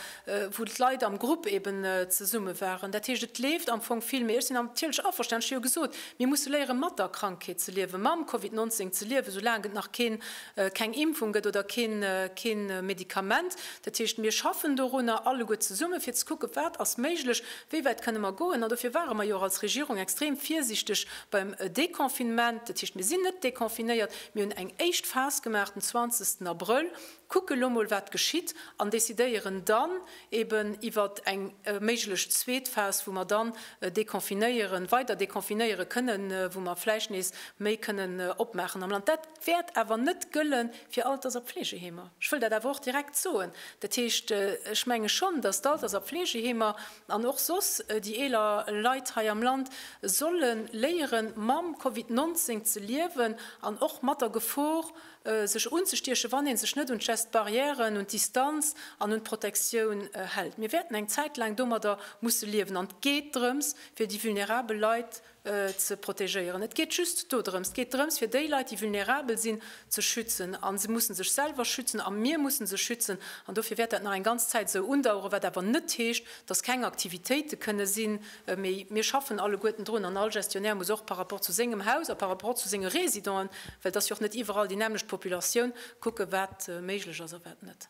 wou d'Leit am Grupp eeben zesumme waren. Dat heescht, et leeft am Fong vill. Mee ech sinn natierlech averstanen, ech hu jo gesot, mir musse léiere mat der Krankheet ze liewen, mam Covid 19 ze liewen, soulaang et nach keen, keng Impfung gëtt oder keen, keen Medikament. Dat heescht, mir schaffen dorunner alleguer zesumme fir ze kucken, wat ass méiglech, wéi wäit kënne mer goen. An dofir ware mer jo och als Regierung extrem virsichteg Beim Deconfinement, dat heescht mir sinn net deconfinéiert, mir hunn eng éischt Phas gemaach den 20 Abrëll, kucke lo mol wat geschitt an decidéieren dann eben iwwer eng méiglech zweet Phas, wou mer dann deconfinéieren, weider deconfinéiere kënnen, wou mer vläicht nees méi kënnen opmaachen am Land. Dat wäert awer net gëlle fir Alters a Pfleegeheemer. Ech wëll dat awer och direkt soen. Dat heescht, ech menge schonn, datt d'Alters a Pfleegeheemer An och soss déi eeler Leit hei am Land solle léieren, mam Covid 19 ze liewen an och mat der Gefor, sech unzestiechen, wann ee sech net un d'Geste barrièren, un d'Distanz an un d'Protektioun hält. Mir wäerten eng Zäit laang domadder musse liewen. An et geet drëms, fir déi vulnerabel Leit ze protegéieren. Et geet just dodrëms. Et geet drëms, fir déi Leit, déi vulnerabel sinn, ze schützen. A se musse sech selwer schützen a mir musse se schützen. An dofir wäert dat nach eng ganz Zäit esou undaueren, wat awer net heescht, dass keng Aktivitéite kënne sinn. Mee mir schaffen alleguerten drun an all Gestionnaire muss och par rapport zu sengem Haus a par rapport zu senge Résidenten, well et ass jo och net iwwerall déi nämmlecht Populatioun, kucken, wat méiglech ass a wat net.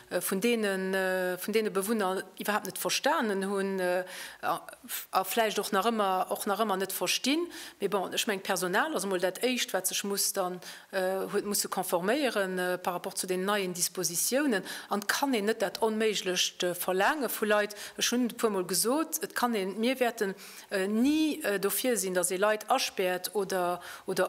vun deene Bewunner iwwerhaapt net verstanen hunn a vläicht och nach ëmmer och nach ëmmer net verstinn. Mee bon, ech mengen, d'Personal ass emol dat Éischt, wat sech muss dann huet musse conforméiere par rapport zu deenen neien Dispositiounen. An et kann een net dat Onméiglecht verlaange vu Leit. Ech hunn et e puermol gesot, et kann een, mir wäerten, ni dofir sinn, datt ee Leit aspäert oder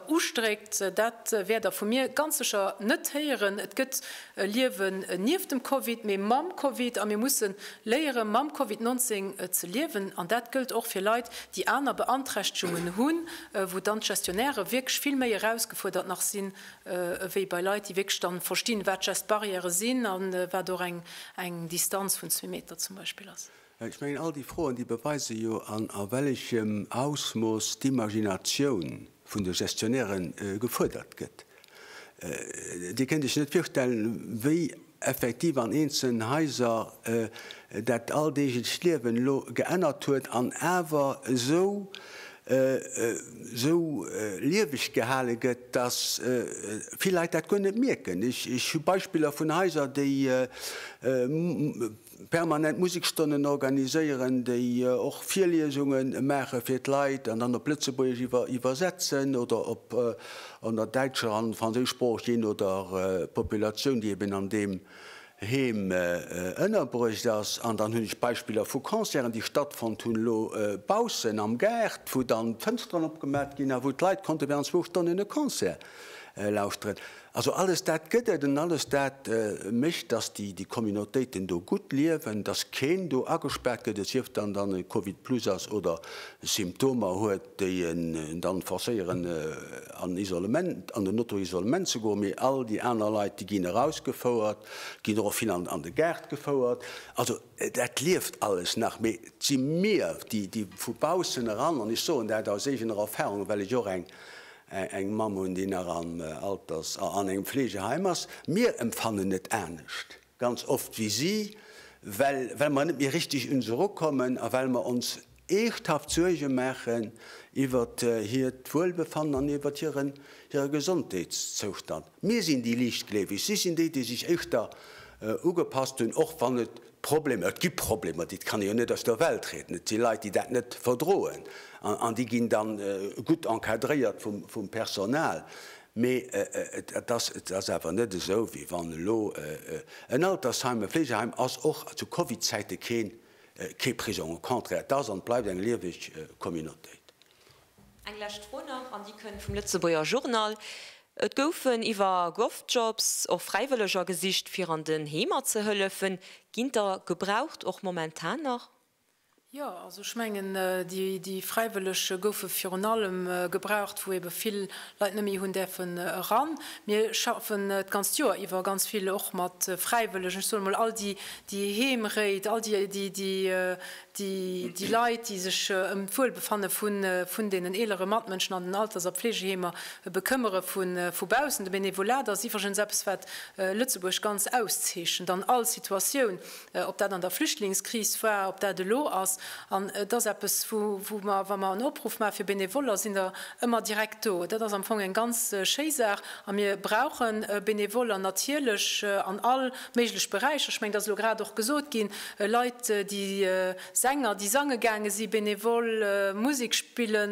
ustréckt. Dat wäert Der vu mir ganz sécher net héieren. Et gëtt e Liewen nieft dem Covid, mee mam Covid a mir musse léiere mam Covid 19 ze liewen. An dat gëllt och fir Leit, déi aner Beanträchtegungen hunn, wou dann d'Gestionnairë wierklech vill méi erausgefuerdert nach sinn, ewéi bei Leit, déi wierklech dann verstinn, wat Geste-barrièrë sinn a wat och eng Distanz vun zwee Meter zum Beispill ass. Ech mengen, all déi Froen,
déi beweise jo, an a wellechem Ausmooss d'Imaginatioun vun de Gestionnaire gefuerdert gëtt. Dir kënnt Iech net virstellen, wéi effektiv an eenzelnen Haiser dat alldeeglecht Liewen elo geännert huet an awer esou lieweg gehale gëtt, dass vill Leit dat guer net mierken. Ech hu Beispiller vun Haiser, déi permanent Musekstonnen organiséieren, déi och Virliesunge maache fir d'Leit an dann op Lëtzebuergesch iwwer iwwersetzen oder op an der däitscher an franséisch Sprooch, jee no der Populatioun, déi eben an deem Heem ënnerbruecht ass. An dann hunn ech Beispiller vu Concerten, déi stattfonnt hunn elo baussen am Gaart, wou dann d'Fënsteren opgemat ginn a wou d'Leit konnte während zwou Stonnen e Concert lauschteren. Also alles dat gëtt et an alles dat mécht, dass déi Communautéiten do gutt liewen, dass keen do agespaart gëtt, et sief dann, dann e Covid plus ass oder Symptomer huet, déi en dann forcéieren an Isolement, an den Auto-Isolement ze goen, mee all déi aner Leit, déi ginn erausgefouert, ginn och vill an de Gaart gefouert. Also dat lieft alles nach, mee et si mir, déi vu baussen eran, an ech soen dat aus eegener Erfahrung, well ech och eng eng Mamm hunn, déi nach am Alters a an engem Fleegeheim ass. Mir empfannen et anescht ganz oft wéi si, well well mer net méi richteg un se erukommen a well mer ons eeschthaft Suerge maachen iwwert hiert Wuelbefannen an iwwert hiren hire Gesondheetszoustand. Mir sinn déi Liichtgleeweg, si sinn déi, déi sech éischter ugepasst hunn, och wann et Problemer, et gi Problemer, déi kann ee jo net aus der Welt rieden, et si Leit, déi dat net verdroen an déi ginn da gutt encadréiert vum Personal. Mee et ass awer net esou, wéi wann elo en Altersheim, e Fleegeheim ass och zu Covidzäite kee Prisong, au contraire, et ass an et bleift eng lieweg Communautéit. Eng
lescht Fro nach, an déi kënnt vum Lëtzebuerger Journal, Et goufen iwwer Govjobs och Fräiwëlleger gesicht, fir an den Heemer ze hëllefen. Ginn der gebraucht, och momentan nach? Jo, also
ech mengen, déi Fräiwëlleg goufe virun allem gebraucht, wou ebe vill Leit net méi hunn däerfen eran. Mir schaffen d'ganzt Joer iwwer ganz vill och mat Fräiwëllegen. Ech soe mol, all déi Heemréit, all déi déi Leit, déi sech ëm d'Wuelbefanne vun deenen eelere Matmënschen an den Alters a Pflegeheemer bekëmmere vu baussen. De Benevolat ass iwwregens eppes, wat Lëtzebuerg ganz auszeechent an all Situatioun, ob dat an der Flüchtlingskris war, ob dat elo ass. An et ass eppes, wou mer, wa mer en Opruff maache fir Benevoller, sinn der ëmmer direkt do. Dat ass am Fong eng ganz schéi Saach a mir brauche Benevoller natierlech an all Méiglech Beräicher, ech mengen, dat ass elo grad och gesot ginn, Leit, déi Sänger, déi sange gaange si benevol, Musek spille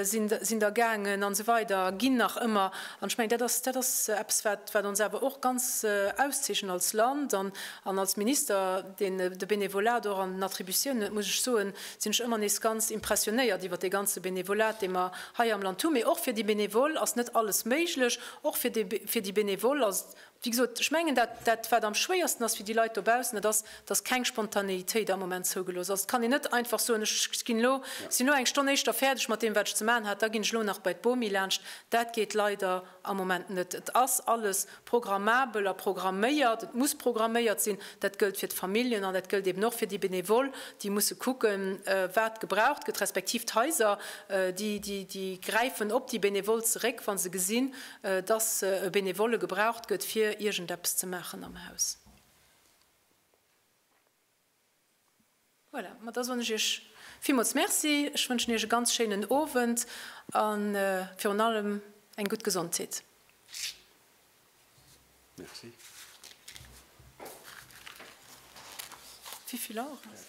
sinn der gaangen a sou weider, ginn nach ëmmer. An ech mengen, dat ass, dat ass eppes, wat, wat ons awer och ganz auszeechent als Land an an als Minister, deen de Benevolat och an den Attributiounen huet, muss ech soen, sinn ech ëmmer nees ganz impressionnéiert iwwert dee ganze Benevolat, dee mer hei am Land hunn. Mee och fir déi Benevole ass net alles méiglech. Och fir déi, fir déi Benevole ass Wéi gesot, ech mengen, dat wat am schwéiersten ass fir déi Leit dobaussen, dat ass, datt keng Spontanéitéit am Moment zougelooss ass. Et kann een net einfach soen, ech sinn elo eng Stonn éischter fäerdeg mat deem wat ech ze maachen hat, da ginn ech elo nach bei d'Bomi laanscht. Dat geet leider am Moment net. Et ass alles programmabel a programméiert, et muss programméiert sinn. Dat gëllt fir d'Familljen an dat gëllt eben och fir déi Benevole, déi musse kucken, wat gebraucht gëtt, respektiv d'Haiser, déi gräifen op déi Benevole zeréck, wa se gesinn, dass e Benevole gebraucht gëtt fir iergendeppes ze maachen am Haus. Voilà, ma da soen ech Iech villmools Merci, ech wënschen Iech e ganz schéinen Owend a virun allem eng gutt Gesondheet. Merci. Wéi vill Auer ass?